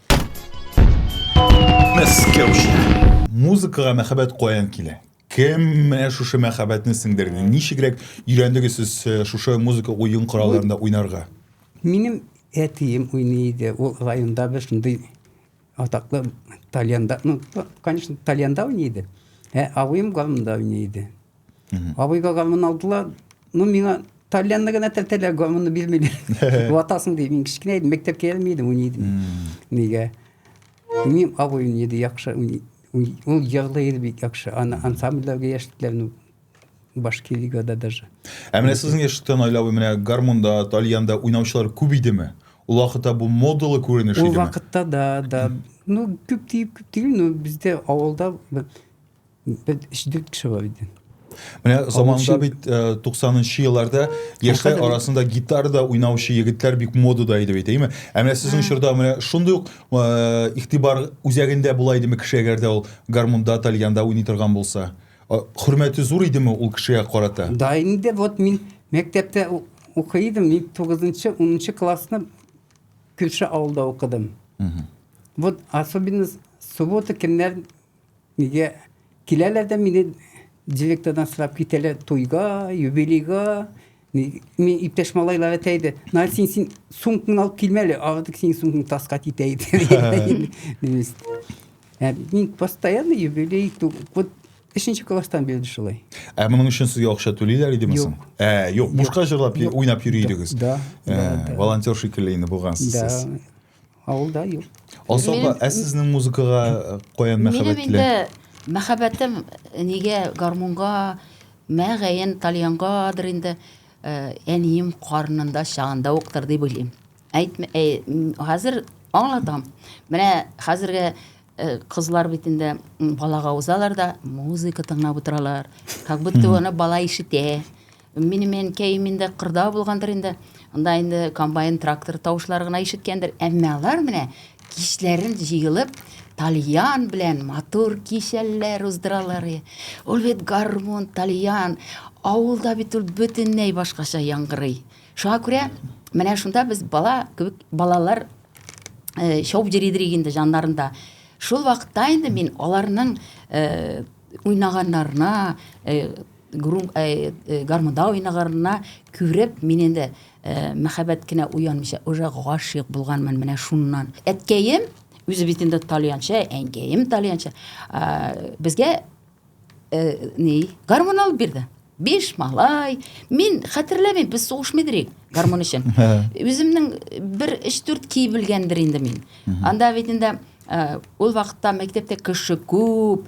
Музыкага мәхәббәт каян килә? Кем менә шушы мәхәббәтне сеңдерде? Ничегрәк өйрәндегез сез э, шушы музыка уен коралларында уйнарга? Минем әтием уйный иде. Ул районда бер шундый атаклы тальянда, ну, конечно, тальянда уйный иде. Ә абыем гармунда уйный иде. Абыйга гармун алдылар. Ну, миңа тальянны гына тәртәләр, гармунны бирмиләр. Ватасың ди, мин кечкенә идем, мәктәпкә йөрми идем, уйный идем. Нигә? Мин абый уйный иде, яхшы уйный. Ул ярлы иде бик яхшы. Аны ансамбльләргә яшьтеләр, ну, башка лигада даже. Ә менә сезнең яшьтә Наилә абый менә гармунда, тальянда уйнаучылар күп идеме? Ул вакытта бу модалы күренеш идеме? Ул вакытта да, да. Ну, күп дип, күп түгел, но бездә авылда Без өч-дүрт кеше бар иде. Менә заманда бит 90нчы э, елларда яшьләр арасында гитарда уйнаучы егетләр бик модада иде бит, әйме? Ә менә сезнең чорда менә шундый ук э, игътибар үзәгендә була идеме кеше, әгәр дә ул гармунда, тальянда уйный торган булса? Хөрмәте зур идеме ул кешегә карата? Да инде вот мин мәктәптә укый идем, мин 9нчы, 10нчы классны Күрше авылда укыдым. Вот особенно суббота көннәр Нигә киләләр дә мине директордан сорап китәләр туйга, юбилейга. Мин иптәш малайлар әйтә иде, Наил, син, син сумкаңны алып килмә әле, артык синең сумкаң таска китә иде. Ә мин постоянно юбилей, вот өченче класстан бирле шулай. Ә моның өчен сезгә акча түлиләр идеме соң? Ә, юк, бушка җырлап, уйнап йөри идегез. Да. Волонтер шикелле инде булгансыз сез. Да. Авылда юк. Особо ә сезнең музыкага э, каян мәхәббәт килә? Минем инде мәхәббәтем э, нигә гармунга, мәгәен тальянгадыр инде э, әнием карнында чагында уктыр дип уйлыйм. Әйтмә, хәзер аңлатам. Менә хәзерге Э, кызлар бит инде балага узалар да музыка тыңлап утыралар как будто аны бала ишетә Минем әнкәем инде кырда булгандыр инде. Анда инде комбайн, трактор тавышлары гына ишеткәндер. Әмма алар менә кичләрен җыелып, тальян белән матур кичәлләр уздыралар. Ул бит гармун, тальян. Авылда бит ул бөтенләй башкача яңгырый. Шуңа күрә менә шунда без бала кебек балалар э, шауып йөри идек инде җаннарында. Шул вакытта инде мин аларның э, уйнаганнарына, э, Грум э, э, гармунда уйнаганына күреп, мин инде э, мәхәббәт кенә уянмыйча, уже гашыйк булганмын менә шуннан. Әткәем үзе бит инде тальянчы, әнкәем тальянчы. Э, безгә э, ни, гармун алып бирде. Биш малай. Мин хәтерләмим, без сугышмый идек гармун өчен. Үземнең бер 3-4 кий белгәндер инде мин. Анда бит инде Э, ул вакытта мәктәптә кеше күп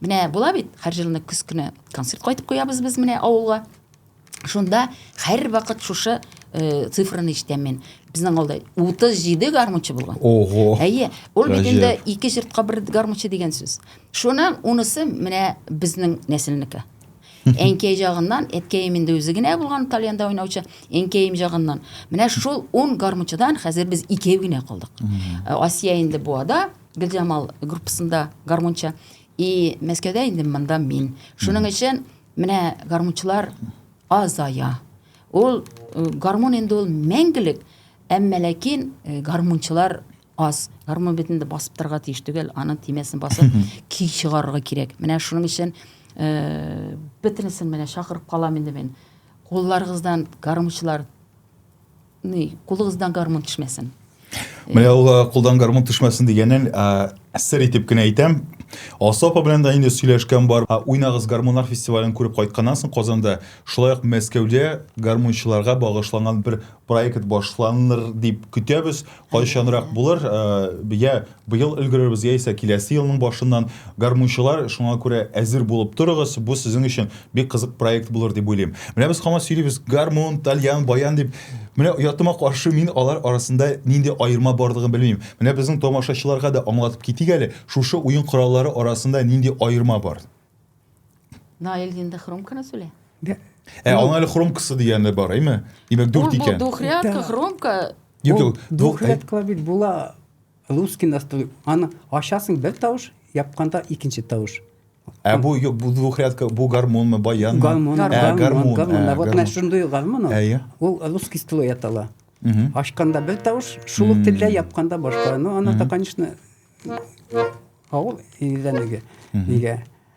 Менә була бит, һәр җылны көз көне концерт кайтып куябыз без менә авылга. Шунда һәр вакыт шушы э, цифраны ишетәм мин. Безнең авылда 37 гармунчы булган. Ого. Әйе, ул бит инде ике җыртка бер гармунчы дигән сүз. Шуның унысы менә безнең нәселнеке. Әнкәй җагыннан, әткәем инде үзе генә булган Тальянда уйнаучы, әнкәем җагыннан. Менә шул 10 гармунчыдан хәзер без икәү генә калдык. Асия инде буада, Гөлҗамал группасында гармунчы. И Мәскәүдә инде монда мин. Шуның өчен менә гармунчылар азая. Ул э, гармун инде ул мәңгелек, әмма ләкин э, гармунчылар аз. Гармун бит инде басып торырга тиеш түгел, аның тимәсен басып көй чыгарырга кирәк. Менә шуның өчен э, бөтенесен менә чакырып калам инде мин. Кулларыгыздан гармунчылар Ни, кулыгыздан гармун төшмәсен. Менә ул э, кулдан гармун төшмәсен дигәнен э, сер итеп кенә әйтәм. Алсу апа белән дә инде сөйләшкән бар. Ә Уйнагыз гармуннар фестивален күреп кайтканнан соң Казанда, шулай ук Мәскәүдә гармунчыларга багышланган бер проект башланыр дип көтәбез. Кайчанрак булыр? Э, я Быел өлгерербез яисә киләсе елның башыннан, гармунчылар, шуңа күрә әзер булып торыгыз, бу сезнең өчен бик кызык проект булыр дип уйлыйм. Менә без һаман сөйлибез, гармун, тальян, баян дип. Менә оятыма каршы мин алар арасында нинди аерма барлыгын белмим. Менә безнең тамашачыларга да аңлатып китик әле, шушы уен кораллары арасында нинди аерма бар? Наил инде хромканы сүлә. Ә аңа әле хромкасы дигәне бар, әйме? Димәк, дүрт икән. Ул бу духрядка, хромка. Юк, юк, духрядка бит була. Русский настрой. Аны ачасың бер тавыш, япканда икенче тавыш. Ә бу юк, бу двухрядка, бу гармонмы, баянмы? Гармон, ә, гармон, гармон. гармон. Ә, вот менә шундый гармон ул. Әйе. Ул русский строй атала. Ашканда бер тавыш, шул ук телдә япканда башка. Ну, аны да, конечно, авыл илдәнеге. Нигә?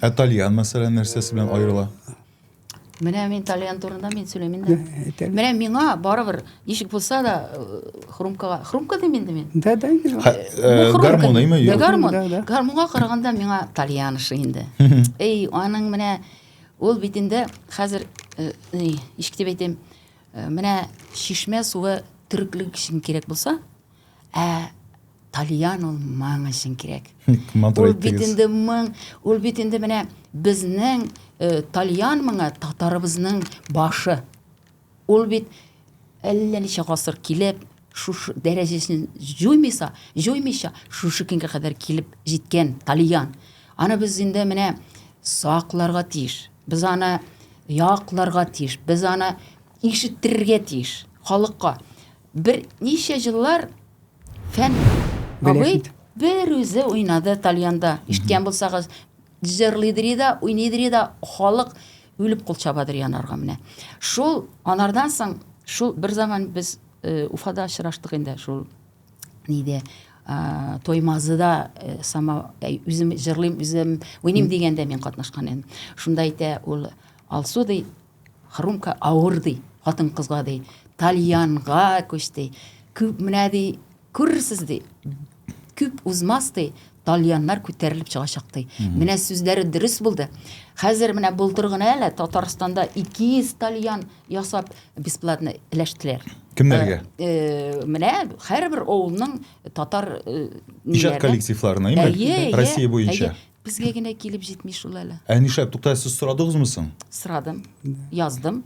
Ә тальян, мәсәлән, нәрсәсе белән аерыла? Менә мин тальян турында мин сөйләмим дә. Менә миңа барыбер ничек булса да э, хрумкага, хрумка дим инде мин. Да, да, инде. Э, гармон име? Да, гармон. Гармонга караганда миңа тальян ише инде. Эй, аның менә ул бит инде хәзер э, ничек дип әйтим, менә чишмә суы төреклек өчен кирәк булса, Ә Тальян ул моң өчен кирәк. Ул бит инде моң, ул бит инде менә безнең э, Тальян моңа татарыбызның башы. Ул бит әллә ничә гасыр килеп, шушы дәрәҗәсен җуймыйса, җуймыйча, шушы көнгә кадәр килеп җиткән Тальян. Аны без инде менә сакларга тиеш. Без аны якларга тиеш. Без аны ишеттерергә тиеш халыкка. Бер ничә җыллар фән абый бер үзе уйнады тальянда. Ишеткән булсагыз, җырлыйдыр да, уйныйдыр да, халык үлеп кул чабадыр янарга менә. Шул анардан соң шул бер заман без э, Уфада очраштык инде шул нидә ә, тоймазыда ә, сама ә, үзем җырлыйм үзем уйныйм дигәндә мин катнашкан идем шунда әйтә ул алсу ди Хрумка авыр ди, хатын-кызга ди, тальянга күч ди. Күп менә ди, күрерсез ди. Күп узмас ди, тальяннар күтәрелеп чыгачак ди. Менә сүзләре дөрес булды. Хәзер менә былтыр гына әле Татарстанда 200 тальян ясап бесплатно эләштеләр. Кемнәргә? Э, э, менә һәрбер авылның татар э, Иҗат коллективларына, именно Россия буенча. Безгә генә килеп җитми шул әле. Ә нишләп туктале сез сорадыгызмы соң? Сорадым, яздым.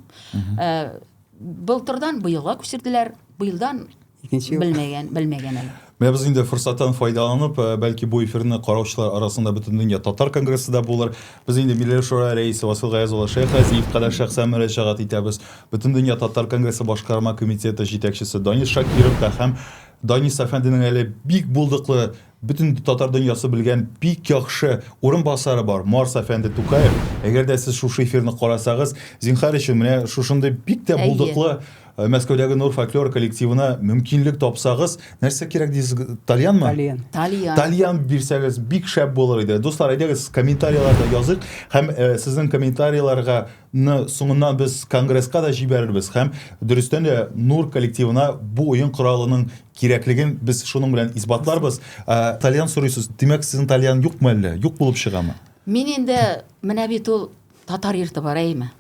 Э, Былтырдан быелга күчерделәр, быелдан Икенче ел. белмәгән, белмәгән әле. Менә без инде форсаттан файдаланып, э, бәлки бу эфирны караучылар арасында Бөтендөнья татар конгрессы да булыр. Без инде Милли шура рәисе Васил Гаяз улы Шәйх Газиевка да шәхсән мөрәҗәгать итәбез. Бөтендөнья татар конгрессы башкарма комитеты җитәкчесе Данис Шакиров та һәм Данис әфәнденең әле бик булдыклы Бөтен татар дөньясы белгән бик яхшы урынбасары бар, Марс әфәнде Тукаев. Әгәр дә сез шушы эфирны карасагыз, зинхар өчен, менә шушындый бик тә булдыклы Мәскәүдәге Нур фольклор коллективына мөмкинлек тапсагыз, нәрсә кирәк дисез, тальянмы? Тальян. Тальян. Тальян бирсәгез, бик шәп булыр иде. Дуслар, әйдәгез, комментарийларда языйк һәм сезнең комментарийларга ны соңыннан без конгресска да җибәрербез һәм дөрестән дә Нур коллективына бу уен коралының кирәклеген без шуның белән исбатларбыз. Тальян сорыйсыз. Димәк, сезнең тальян юкмы әллә? Юк булып чыгамы? Мин инде менә бит ул татар йорты бар, әйеме?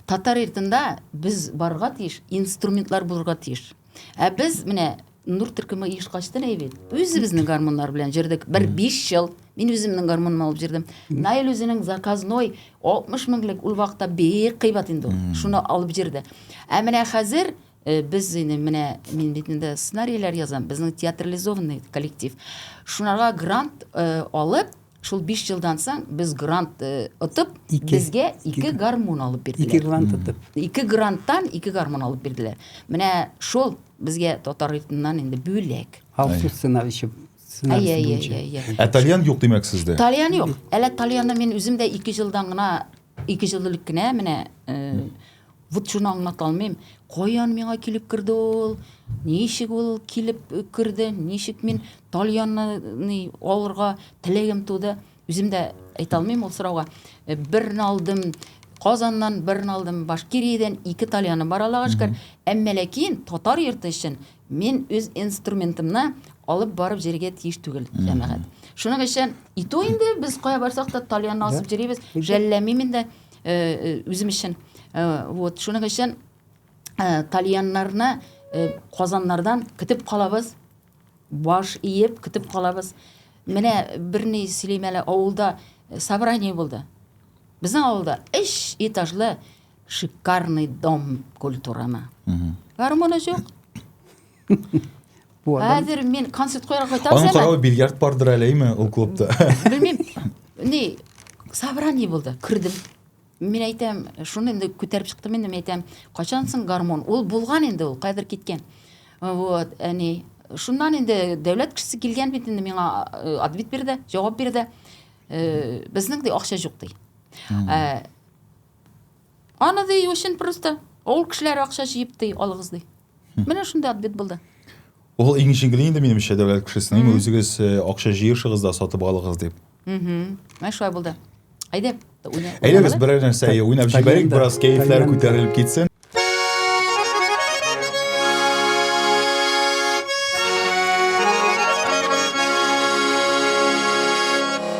Татар йортында без барырга тиеш, инструментлар булырга тиеш. Ә без менә Нур төркеме оешкачтын әй бит. Үзебезнең гармуннар белән җырдык. Бер 5 ел мин үземнең гармуным алып җырдым. Наил үзенең заказной 60 меңлек ул вакытта бик кыйбат инде ул. Шуны алып җырды. Ә менә хәзер Без инде менә мин бит инде сценарийләр язам, безнең театрализованный коллектив. Шунарга грант алып, шул 5 елдан соң без грант отып, безгә ике гармун алып бирделәр. Ике грант отып. Ике гранттан ике гармун алып бирделәр. Менә шул безгә татар ритмыннан инде бүләк. Халкы сценарише Ә тальян юк димәк сездә? Тальян юк. Әле тальянны мин үзем дә 2 елдан гына, 2 ел элек кенә менә Вот шуны аңлата алмыйм. Каян миңа килеп керде ул? Ничек ул килеп керде? Ничек мин тальянны алырга теләгем туды? Үзем дә әйтә алмыйм ул сорауга. Э, берне алдым Казаннан, берне алдым Башкириядән, ике тальяны бар Аллага шөкер. Әмма ләкин татар йорты өчен мин үз инструментымны алып барып җиргә тиеш түгел, җәмәгать. Шуның өчен итү инде без кая барсак та тальянны асып җөрибез, жәлләмим инде. үзем өчен вот шуның өчен тальяннарны казаннардан көтеп калабыз баш иеп көтеп калабыз менә берни сөйлим әле авылда собрание булды безнең авылда өч этажлы шикарный дом культураны гармоны юк хәзер мин концерт куярга кайтам аның каравы бильярд бардыр әле әйме ул клубта белмим не собрание булды кердем мен әйтәм шуны инде күтәреп чыктым инде мен әйтәм качан соң гармон ул булган инде ул кадер киткән вот әни шуннан инде дәүләт кешесе килгән бит инде миңа э, ответ бирде җавап бирде э, безнең дә акча юк ди э, Аны ди өчен просто авыл кешеләре акча җыеп ди алыгыз ди. Менә шундый ответ булды. Ул иң җиңел инде минемчә дәүләт кешесенең үзегез э, акча җыешыгыз да сатып алыгыз дип. Менә шулай булды. Әйдә. Әйдә без берәр нәрсә уйнап җибәрик, бераз кәефләр күтәрелеп китсен.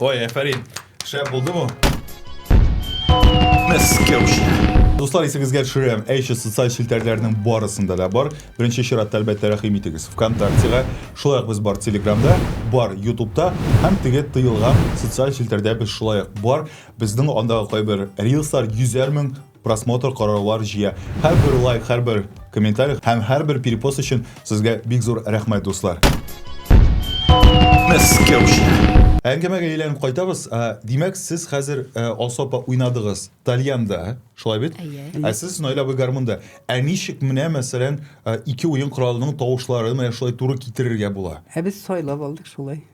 Ой, әфәрин. Шәп булдымы? Мәскәүче. Дуслар, исегезгә төшерәм, әйше социаль челтәрләрнең барысында да бар. Беренче чиратта әлбәттә рәхим итегез ВКонтактега, шулай ук без бар Телеграмда, бар Ютубта һәм теге тыелган социаль челтәрдә без шулай ук бар. Безнең андагы кайбер рилслар 100 мең просмотр, караулар җыя. Һәрбер лайк, һәрбер комментарий һәм һәрбер перепост өчен сезгә бик зур рәхмәт, дуслар. Мәскәүче. Әңгәмәгә әйләнеп кайтабыз. Димәк, сез хәзер Алсу апа уйнадыгыз тальянда, шулай бит? Әйе. Ә сез Наилә абый гармунда. Ә ничек менә, мәсәлән, ике уен коралының тавышларын менә шулай туры китерергә була? Ә без сайлап алдык шулай.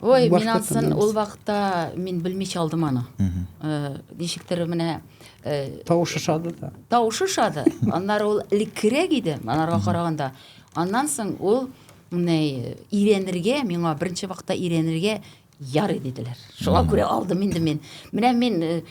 ой мин ансын ул вакытта мин белмичә алдым аны э, ничектер менә э, тавышы шады да тавышы шады аннары ул элеккерәк иде анарга караганда аннан соң ул менә өйрәнергә миңа беренче вакытта өйрәнергә ярый диделәр шуңа күрә алдым инде мин менә мин э,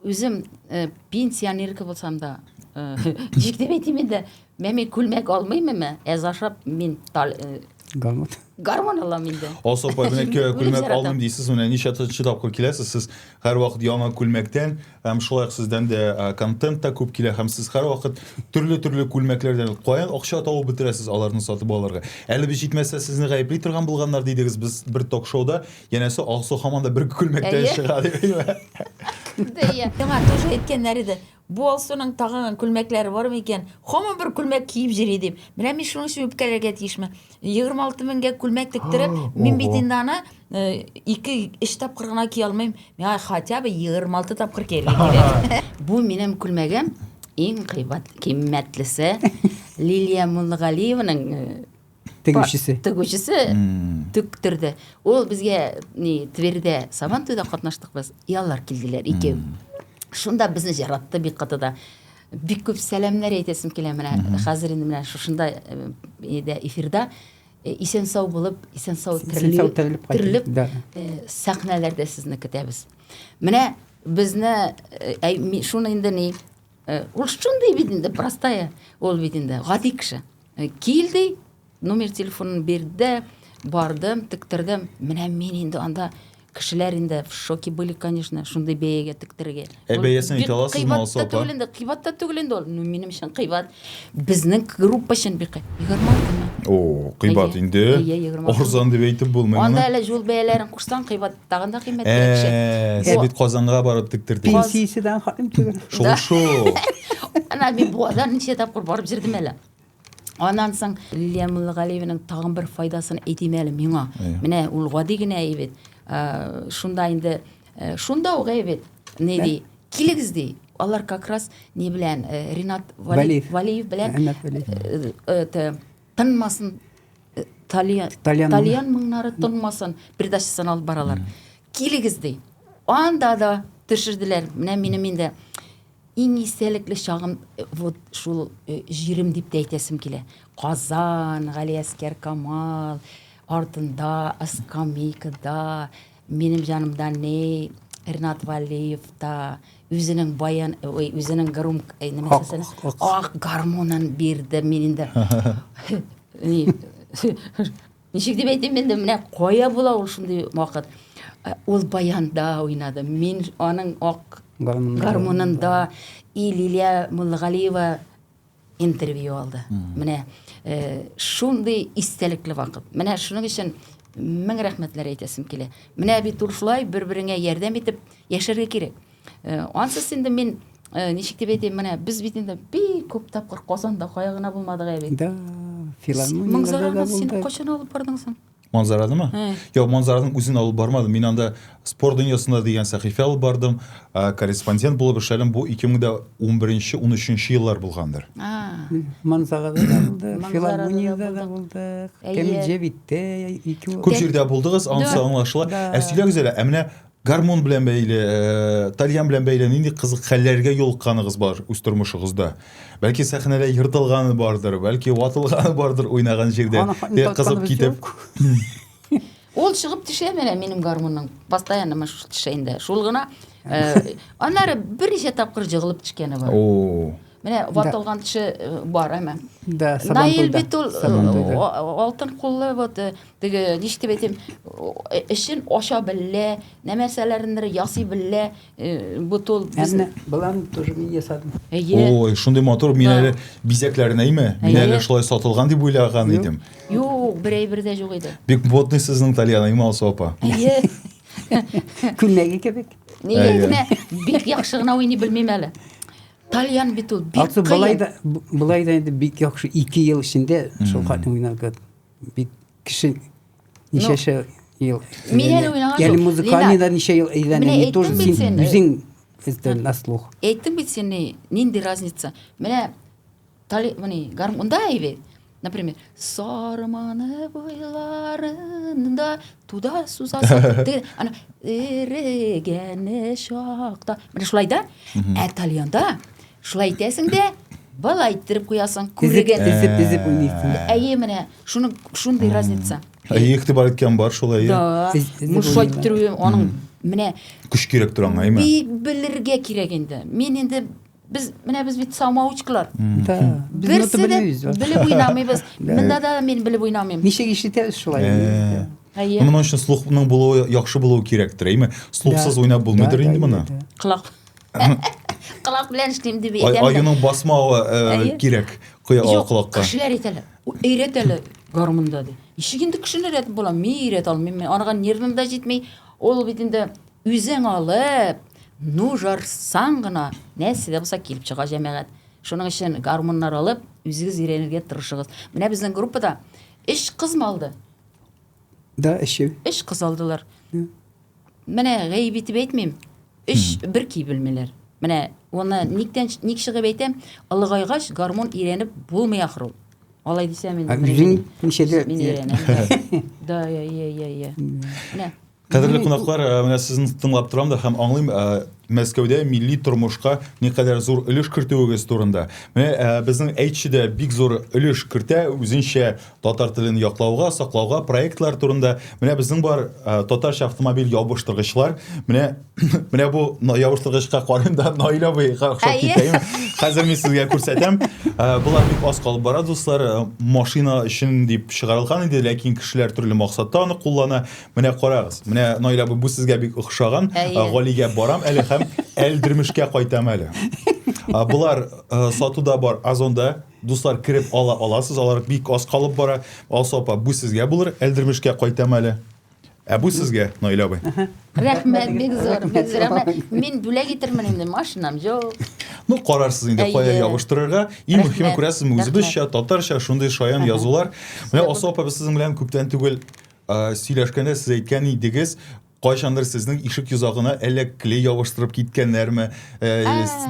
Үзем э, пенсионерка булсам да, э, ничек дип әйтим инде, мә мин күлмәк алмыйм әмма, әз ашап мин тал, э, Гармон. гармон алам инде. Асыл апай, менә кө- Үлем күлмәк яратам. алмыйм дисез, менә ничә тысяча тапкыр киләсез, сез һәрвакыт яңа күлмәктән, һәм шулай ук сездән дә ә, контент та күп килә, һәм сез һәрвакыт төрле-төрле күлмәкләрдән каян акча табып бетерәсез аларны сатып алырга? Әле без җитмәсә сезне гаепли торган булганнар дидегез, без бер ток-шоуда Янәсе Алсу һаман да бер күлмәктә Әйе. чыга дибеме? Дә, иә. Яңа тоже әйткәннәр иде. Бу Алсуның тагын күлмәкләре бармы икән? Һаман бер күлмәк киеп йөри дип. Менә мин шуның өчен үпкәләргә тиешме? 26 меңгә күлмәк тектереп, мин бит Ого. инде аны э, ике, өч тапкыр гына кия алмыйм. Миңа хотя бы 26 тапкыр кияргә кирәк. Бу минем күлмәгем иң кыйбат кыйммәтлесе Лилия Муллыгалиеваның э, тегүчесе тегүчесе тектерде ул безгә ни тверьдә сабан туйда катнаштык без яллар килделәр икәү шунда безне жаратты бик каты да бик күп сәламнәр әйтәсем килә менә хәзер инде менә шушында э, эфирда э, исән сау булып исән сау терелеп э, сәхнәләрдә сезне көтәбез менә безне шуны инде ни Э, ул шундый бит инде простая ул бит инде гади кеше э, кил ди номер телефонын бирде бардым тектердем менә мин инде анда кешеләр инде в шоке были конечно шундый бәягә тектерергә ә бәясен әйтә аласызмы алсу апа түгел инде кыйбат та түгел инде ул ну минем өчен кыйбат безнең группа өчен бик егерме алтымы о кыйбат инде арзан дип әйтеп булмый анда әле юл бәяләрен кушсаң кыйбат Тагын да кыйммәтлерәк шәй. Э, сез бит Казанга барып тектердегез. Пенсияседән хатым түгел. Шул шул. Ана мин Буазда ничә тапкыр барып җирдем әле. Аннан соң Лилия Муллагалиеваның тагын бер файдасын әйтим әле миңа. Менә ул гади генә әйбит. Э, шунда инде э, шунда ук әйбит. Ни ди? Килегез ди. Алар как раз ни белән Ренат Валиев белән это тынмасын э, тальян тальян, тальян моңнары тынмасын передачасын алып баралар килегез ди анда да төшерделәр менә минем инде иң истәлекле чагым э, вот шул э, җирем дип тә әйтәсем килә казан галиәскәр камал артында скамейкада Минем җанымда ни Ренат Валиев та үзенең баян, ой, үзенең гром, нема дисәсен, ак гармонын бирде мин инде. Ничек дип әйтим инде, менә кая була ул шундый вакыт. Э, ул баянда уйнады. Мин аның ак гармонында и Лилия Муллагалиева интервью алды. Менә э, шундый истәлекле вакыт. Менә шуның өчен мең рәхмәтләр әйтәсем килә. Менә бит ул шулай бер-береңә ярдәм итеп яшәргә кирәк. Э, ансыз инде мин э, ничек дип әйтәм, менә без бит инде бик күп тапкыр Казанда кая гына булмадык әле. Да, филармонияләрдә дә булдык. Син кайчан алып бардың соң? Манзараны ма? Йо, Манзараның үзен алып бармадым. Мин анда спорт дөньясында дигән сәхифә алып бардым, корреспондент булып эшләдем. Бу 2011-13 еллар булгандыр. Манзарада да булдык, филармониядә дә булдык. Кәмил Җәвиттә ике. Күп җирдә булдыгыз, анысы аңлашыла. Ә сөйләгез әле, ә менә Гармун белән бәйле, э, тальян белән бәйле нинди кызык хәлләргә юлыкканыгыз бар үз тормышыгызда? Бәлки сәхнәдә ертылганы бардыр, бәлки ватылганы бардыр уйнаган җирдә. Аны хатны Э, Кызып татканыбыз китеп. юк. Ул чыгып төшә менә минем гармунның. Постоянно менә шул төшә инде. Шул гына. э, Аннары берничә тапкыр җыгылып төшкәне бар. О. Менә ватылган теше э, бар әмә. Да, Наил бит ул э, алтын куллы вот э, теге ничек әйтим, эшен ача белә, нәрсәләрендер ясый белә, бут ул безне. Булам тоже мин ясадым. Ой, шундый мотор мин әле бизәкләренә име? Мин әле шулай сатылган дип уйлаган идем. Юк, берәй бердә юк иде. Бик ботный сезнең Тальяна Имал сопа. Әйе. Күлмәге кебек. Нигә бик яхшы гына уйный белмим әле. Тальян бит ул бик кыен. Былай да былай да инде бик яхшы 2 ел эчендә шул хатын уйнарга бит кеше ничәшә ел. Мин әле уйнаган. Яли музыканы да ничә ел әйләнә, не тоже син үзең на слух. Әйттем бит сине, нинди разница? Менә Тали, мыни, гарм, унда или, например, сарманы буйларында туда сузасы, теге, ана, эрегәне шакта, мыни шулай да, ә тальянда, шулай итәсең дә, былай иттереп куясың, күреген. Тезеп, тезеп уйныйсың. Әйе, менә, шуның, шундый разница. Әйе, игътибар иткән бар шулай. Да, мушай иттерү, аның, менә. Көч кирәк тора аңа, әйме? Белергә кирәк инде. Мин инде Без менә без бит самоучкалар. Берсе дә белеп уйнамыйбыз. Монда да мин белеп уйнамыйм. Ничек ишетәбез шулай? Әйе. Моның өчен слухның булуы яхшы булуы кирәктер, әйме? Слухсыз уйнап булмыйдыр инде моны. Колак. Колак белән эшлим дип әйтәм. Аюның басмавы кирәк. Куя колакка. Кешеләр әйтәләр. Өйрәтәләр гармунда ди. Ишек инде кешеләр әйтеп була, мин өйрәтә алмыйм. Анага нервым да җитми. Ул бит инде Үзең алып, ну жарсаң гына, нәрсә дә булса килеп чыга җәмәгать. Шуның өчен гармуннар алып, үзегез өйрәнергә тырышыгыз. Менә безнең группада өч кыз малды. Да, өче. Өч кыз алдылар. Менә гаеп итеп әйтмим. Өч бер ки белмиләр. Менә уны никтән ник чыгып әйтәм, ылыгайгач гармун өйрәнеп булмый ахру. Алай дисәм инде. Үзең ничәдә? Да, я, я, я, я. Менә Кадерле кунаклар, э, менә сезне тыңлап торам да һәм аңлыйм, э, Мәскәүдә милли тормышка никадәр зур өлеш кертүегез турында. Менә э, безнең әйтче дә бик зур өлеш кертә үзенчә татар телен яклауга, саклауга проектлар турында. Менә безнең бар татарча автомобиль ябыштыргычлар. Менә менә бу ябыштыргычка карыйм да Наил абый хакыйкать итәем. Хәзер мин сезгә күрсәтәм. Булар бик аз калып бара, дуслар. Машина өчен дип чыгарылган иде, ләкин кешеләр төрле максатта аны куллана. Менә карагыз, менә Наилә абый, бу сезгә бик охшаган. Әйе. Э, Галигә барам әле һәм Әлдермешкә кайтам әле. Э, Болар э, сатуда бар Озонда. Дуслар кереп ала аласыз, алар бик аз калып бара. Алсу апа, бу сезгә булыр, Әлдермешкә кайтам әле. Ә бу сезгә, Наилә абый. Рәхмәт, бик зур, бик зур. Әмма Мин бүләк итермен инде, машинам юк. Ну, карарсыз инде, кая Әйе. ябыштырырга. Иң Рәхмәт, мөһиме күрәсезме, рәхмәт. үзебезчә, татарча, шундый шаян язулар. Менә Алсу апа, без сезнең белән күптән түгел Ә, сөйләшкәндә сез әйткән идегез, кайчандыр сезнең ишек йозагына әллә клей ябыштырып киткәннәрме, ә,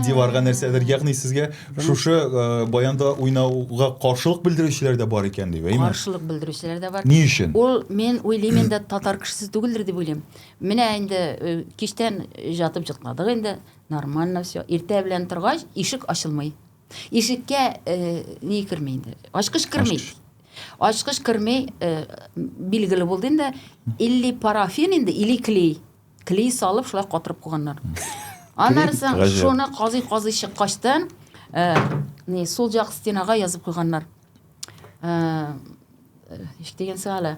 диварга нәрсәдер. Ягъни сезгә шушы ә, баянда уйнауга каршылык белдерүчеләр дә бар икән дип, әйме? Каршылык белдерүчеләр дә бар. Ни өчен? Ул мин уйлыйм инде татар кешесе түгелдер дип уйлыйм. Менә инде э, кичтән ятып җытладык инде. Нормально все. Иртә белән торгач ишек ачылмый. Ишеккә э, ни керми инде? Ачкыч керми. Ачкыч. Ачкыч керми, э, билгеле булды инде, или парафин инде, или клей. Клей салып, шулай катырып куйганнар. Аннары соң Гаҗәп. шуны казый-казый чыккачтан, э, не, сул як стенага язып куйганнар. Э, э, еш дигән сәгала.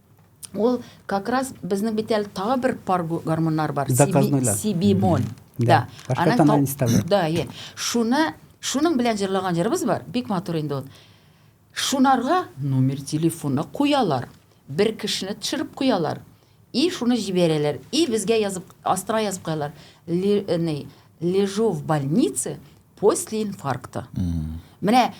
Ул как раз безнең бит әле тагы бер пар гормоннар бар. Заказнойлар. Сибимон. Да. Башка тана не ставлю. Да, е. Шуны, шуның белән җырлаган җырыбыз бар. Бик матур инде ул. Шунарга номер телефоны куялар. Бер кешене төшереп куялар. И шуны җибәрәләр. И безгә язып, астра язып куялар. Э, лежу в больнице после инфаркта. Менә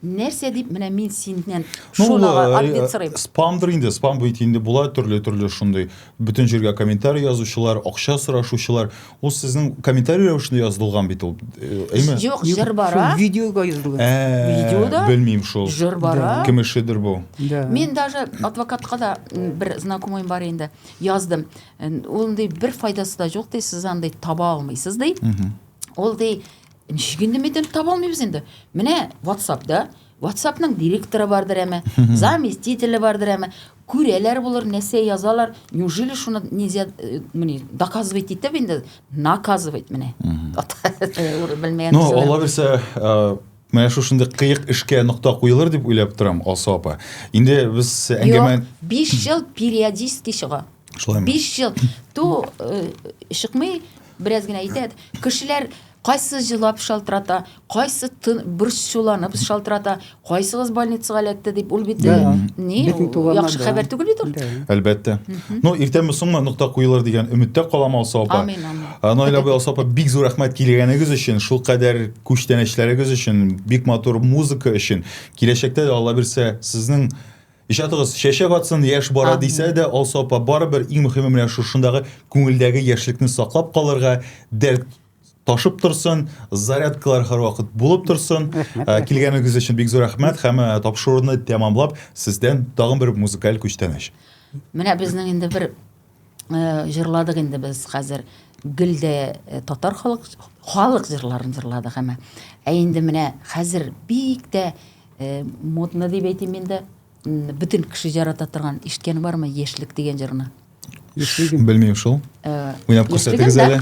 нәрсә дип менә мин синнән шуны ответ сорыйм спамдыр инде спам бит инде була төрле төрле шундый бөтен җиргә комментарий язучылар акча сорашучылар ул сезнең комментарий рәвешендә язылган бит ул әйме юк җыр бара видеога язылган видеода белмим шул җыр бара кем эшедер бу мин даже адвокатка да бер знакомыйм бар инде яздым ул ди бер файдасы да юк ди сез андый таба алмыйсыз ди ул ди Ничек инде медаль таба алмыйбыз инде? Менә WhatsApp-да, WhatsApp-ның директоры бардыр әме, заместителе бардыр әме, күрәләр булыр, нәрсә язалар. Неужели шуны нельзя, э, менә, доказывать итеп инде, наказывать менә. Белмәгән. Ну, алла бирсә, э, Менә шушындый кыек эшкә нокта куелыр дип уйлап торам, Алсу апа. Инде без әңгәмә 5 ел периодически чыга. Шулаймы? 5 ел. Ту э, чыкмый, бераз генә әйтәд. Кешеләр кайсы җылап шалтырата, кайсы тын борчуланып шалтырата, кайсыгыз больницага эләкте дип ул бит э, Да. ни Бөтен ул туганнар яхшы да. хәбәр түгел бит ул. Да. Әлбәттә. Ну, иртәме соңмы нокта куелыр дигән өметтә калам Алсу апа. Амин, амин. А, Наил абый Алсу апа бик зур рәхмәт килгәнегез өчен, шул кадәр күчтәнәчләрегез өчен, бик матур музыка өчен. Киләчәктә дә Алла бирсә, сезнең Иҗатыгыз чәчәк атсын, яшь бара дисә дә, Алсу апа, барыбер иң мөхиме менә шушындагы күңелдәге яшьлекне саклап калырга, дәрт ташып торсын, зарядкалар һәрвакыт булып торсын. Ә, Килгәнегез өчен бик зур рәхмәт һәм ә, тапшыруны тәмамлап, сездән тагын бер музыкаль күчтәнәч. Менә безнең инде бер җырладык инде без хәзер гел дә э, татар халык халык җырларын җырладык әмма ә инде менә хәзер бик тә э, модно дип әйтим инде бөтен кеше ярата торган ишеткән бармы яшьлек дигән җырны яшьлеген белмим шул э, уйнап күрсәтегез әле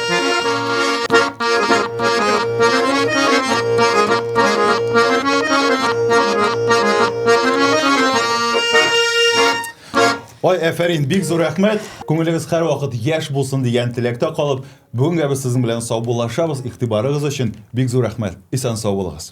Ой, әфәрин, бик зур рәхмәт. Күңелегез һәр вакыт яшь булсын дигән теләктә калып, бүгенгә без сезнең белән саубуллашабыз. Игътибарыгыз өчен бик зур рәхмәт. Исән сау булыгыз.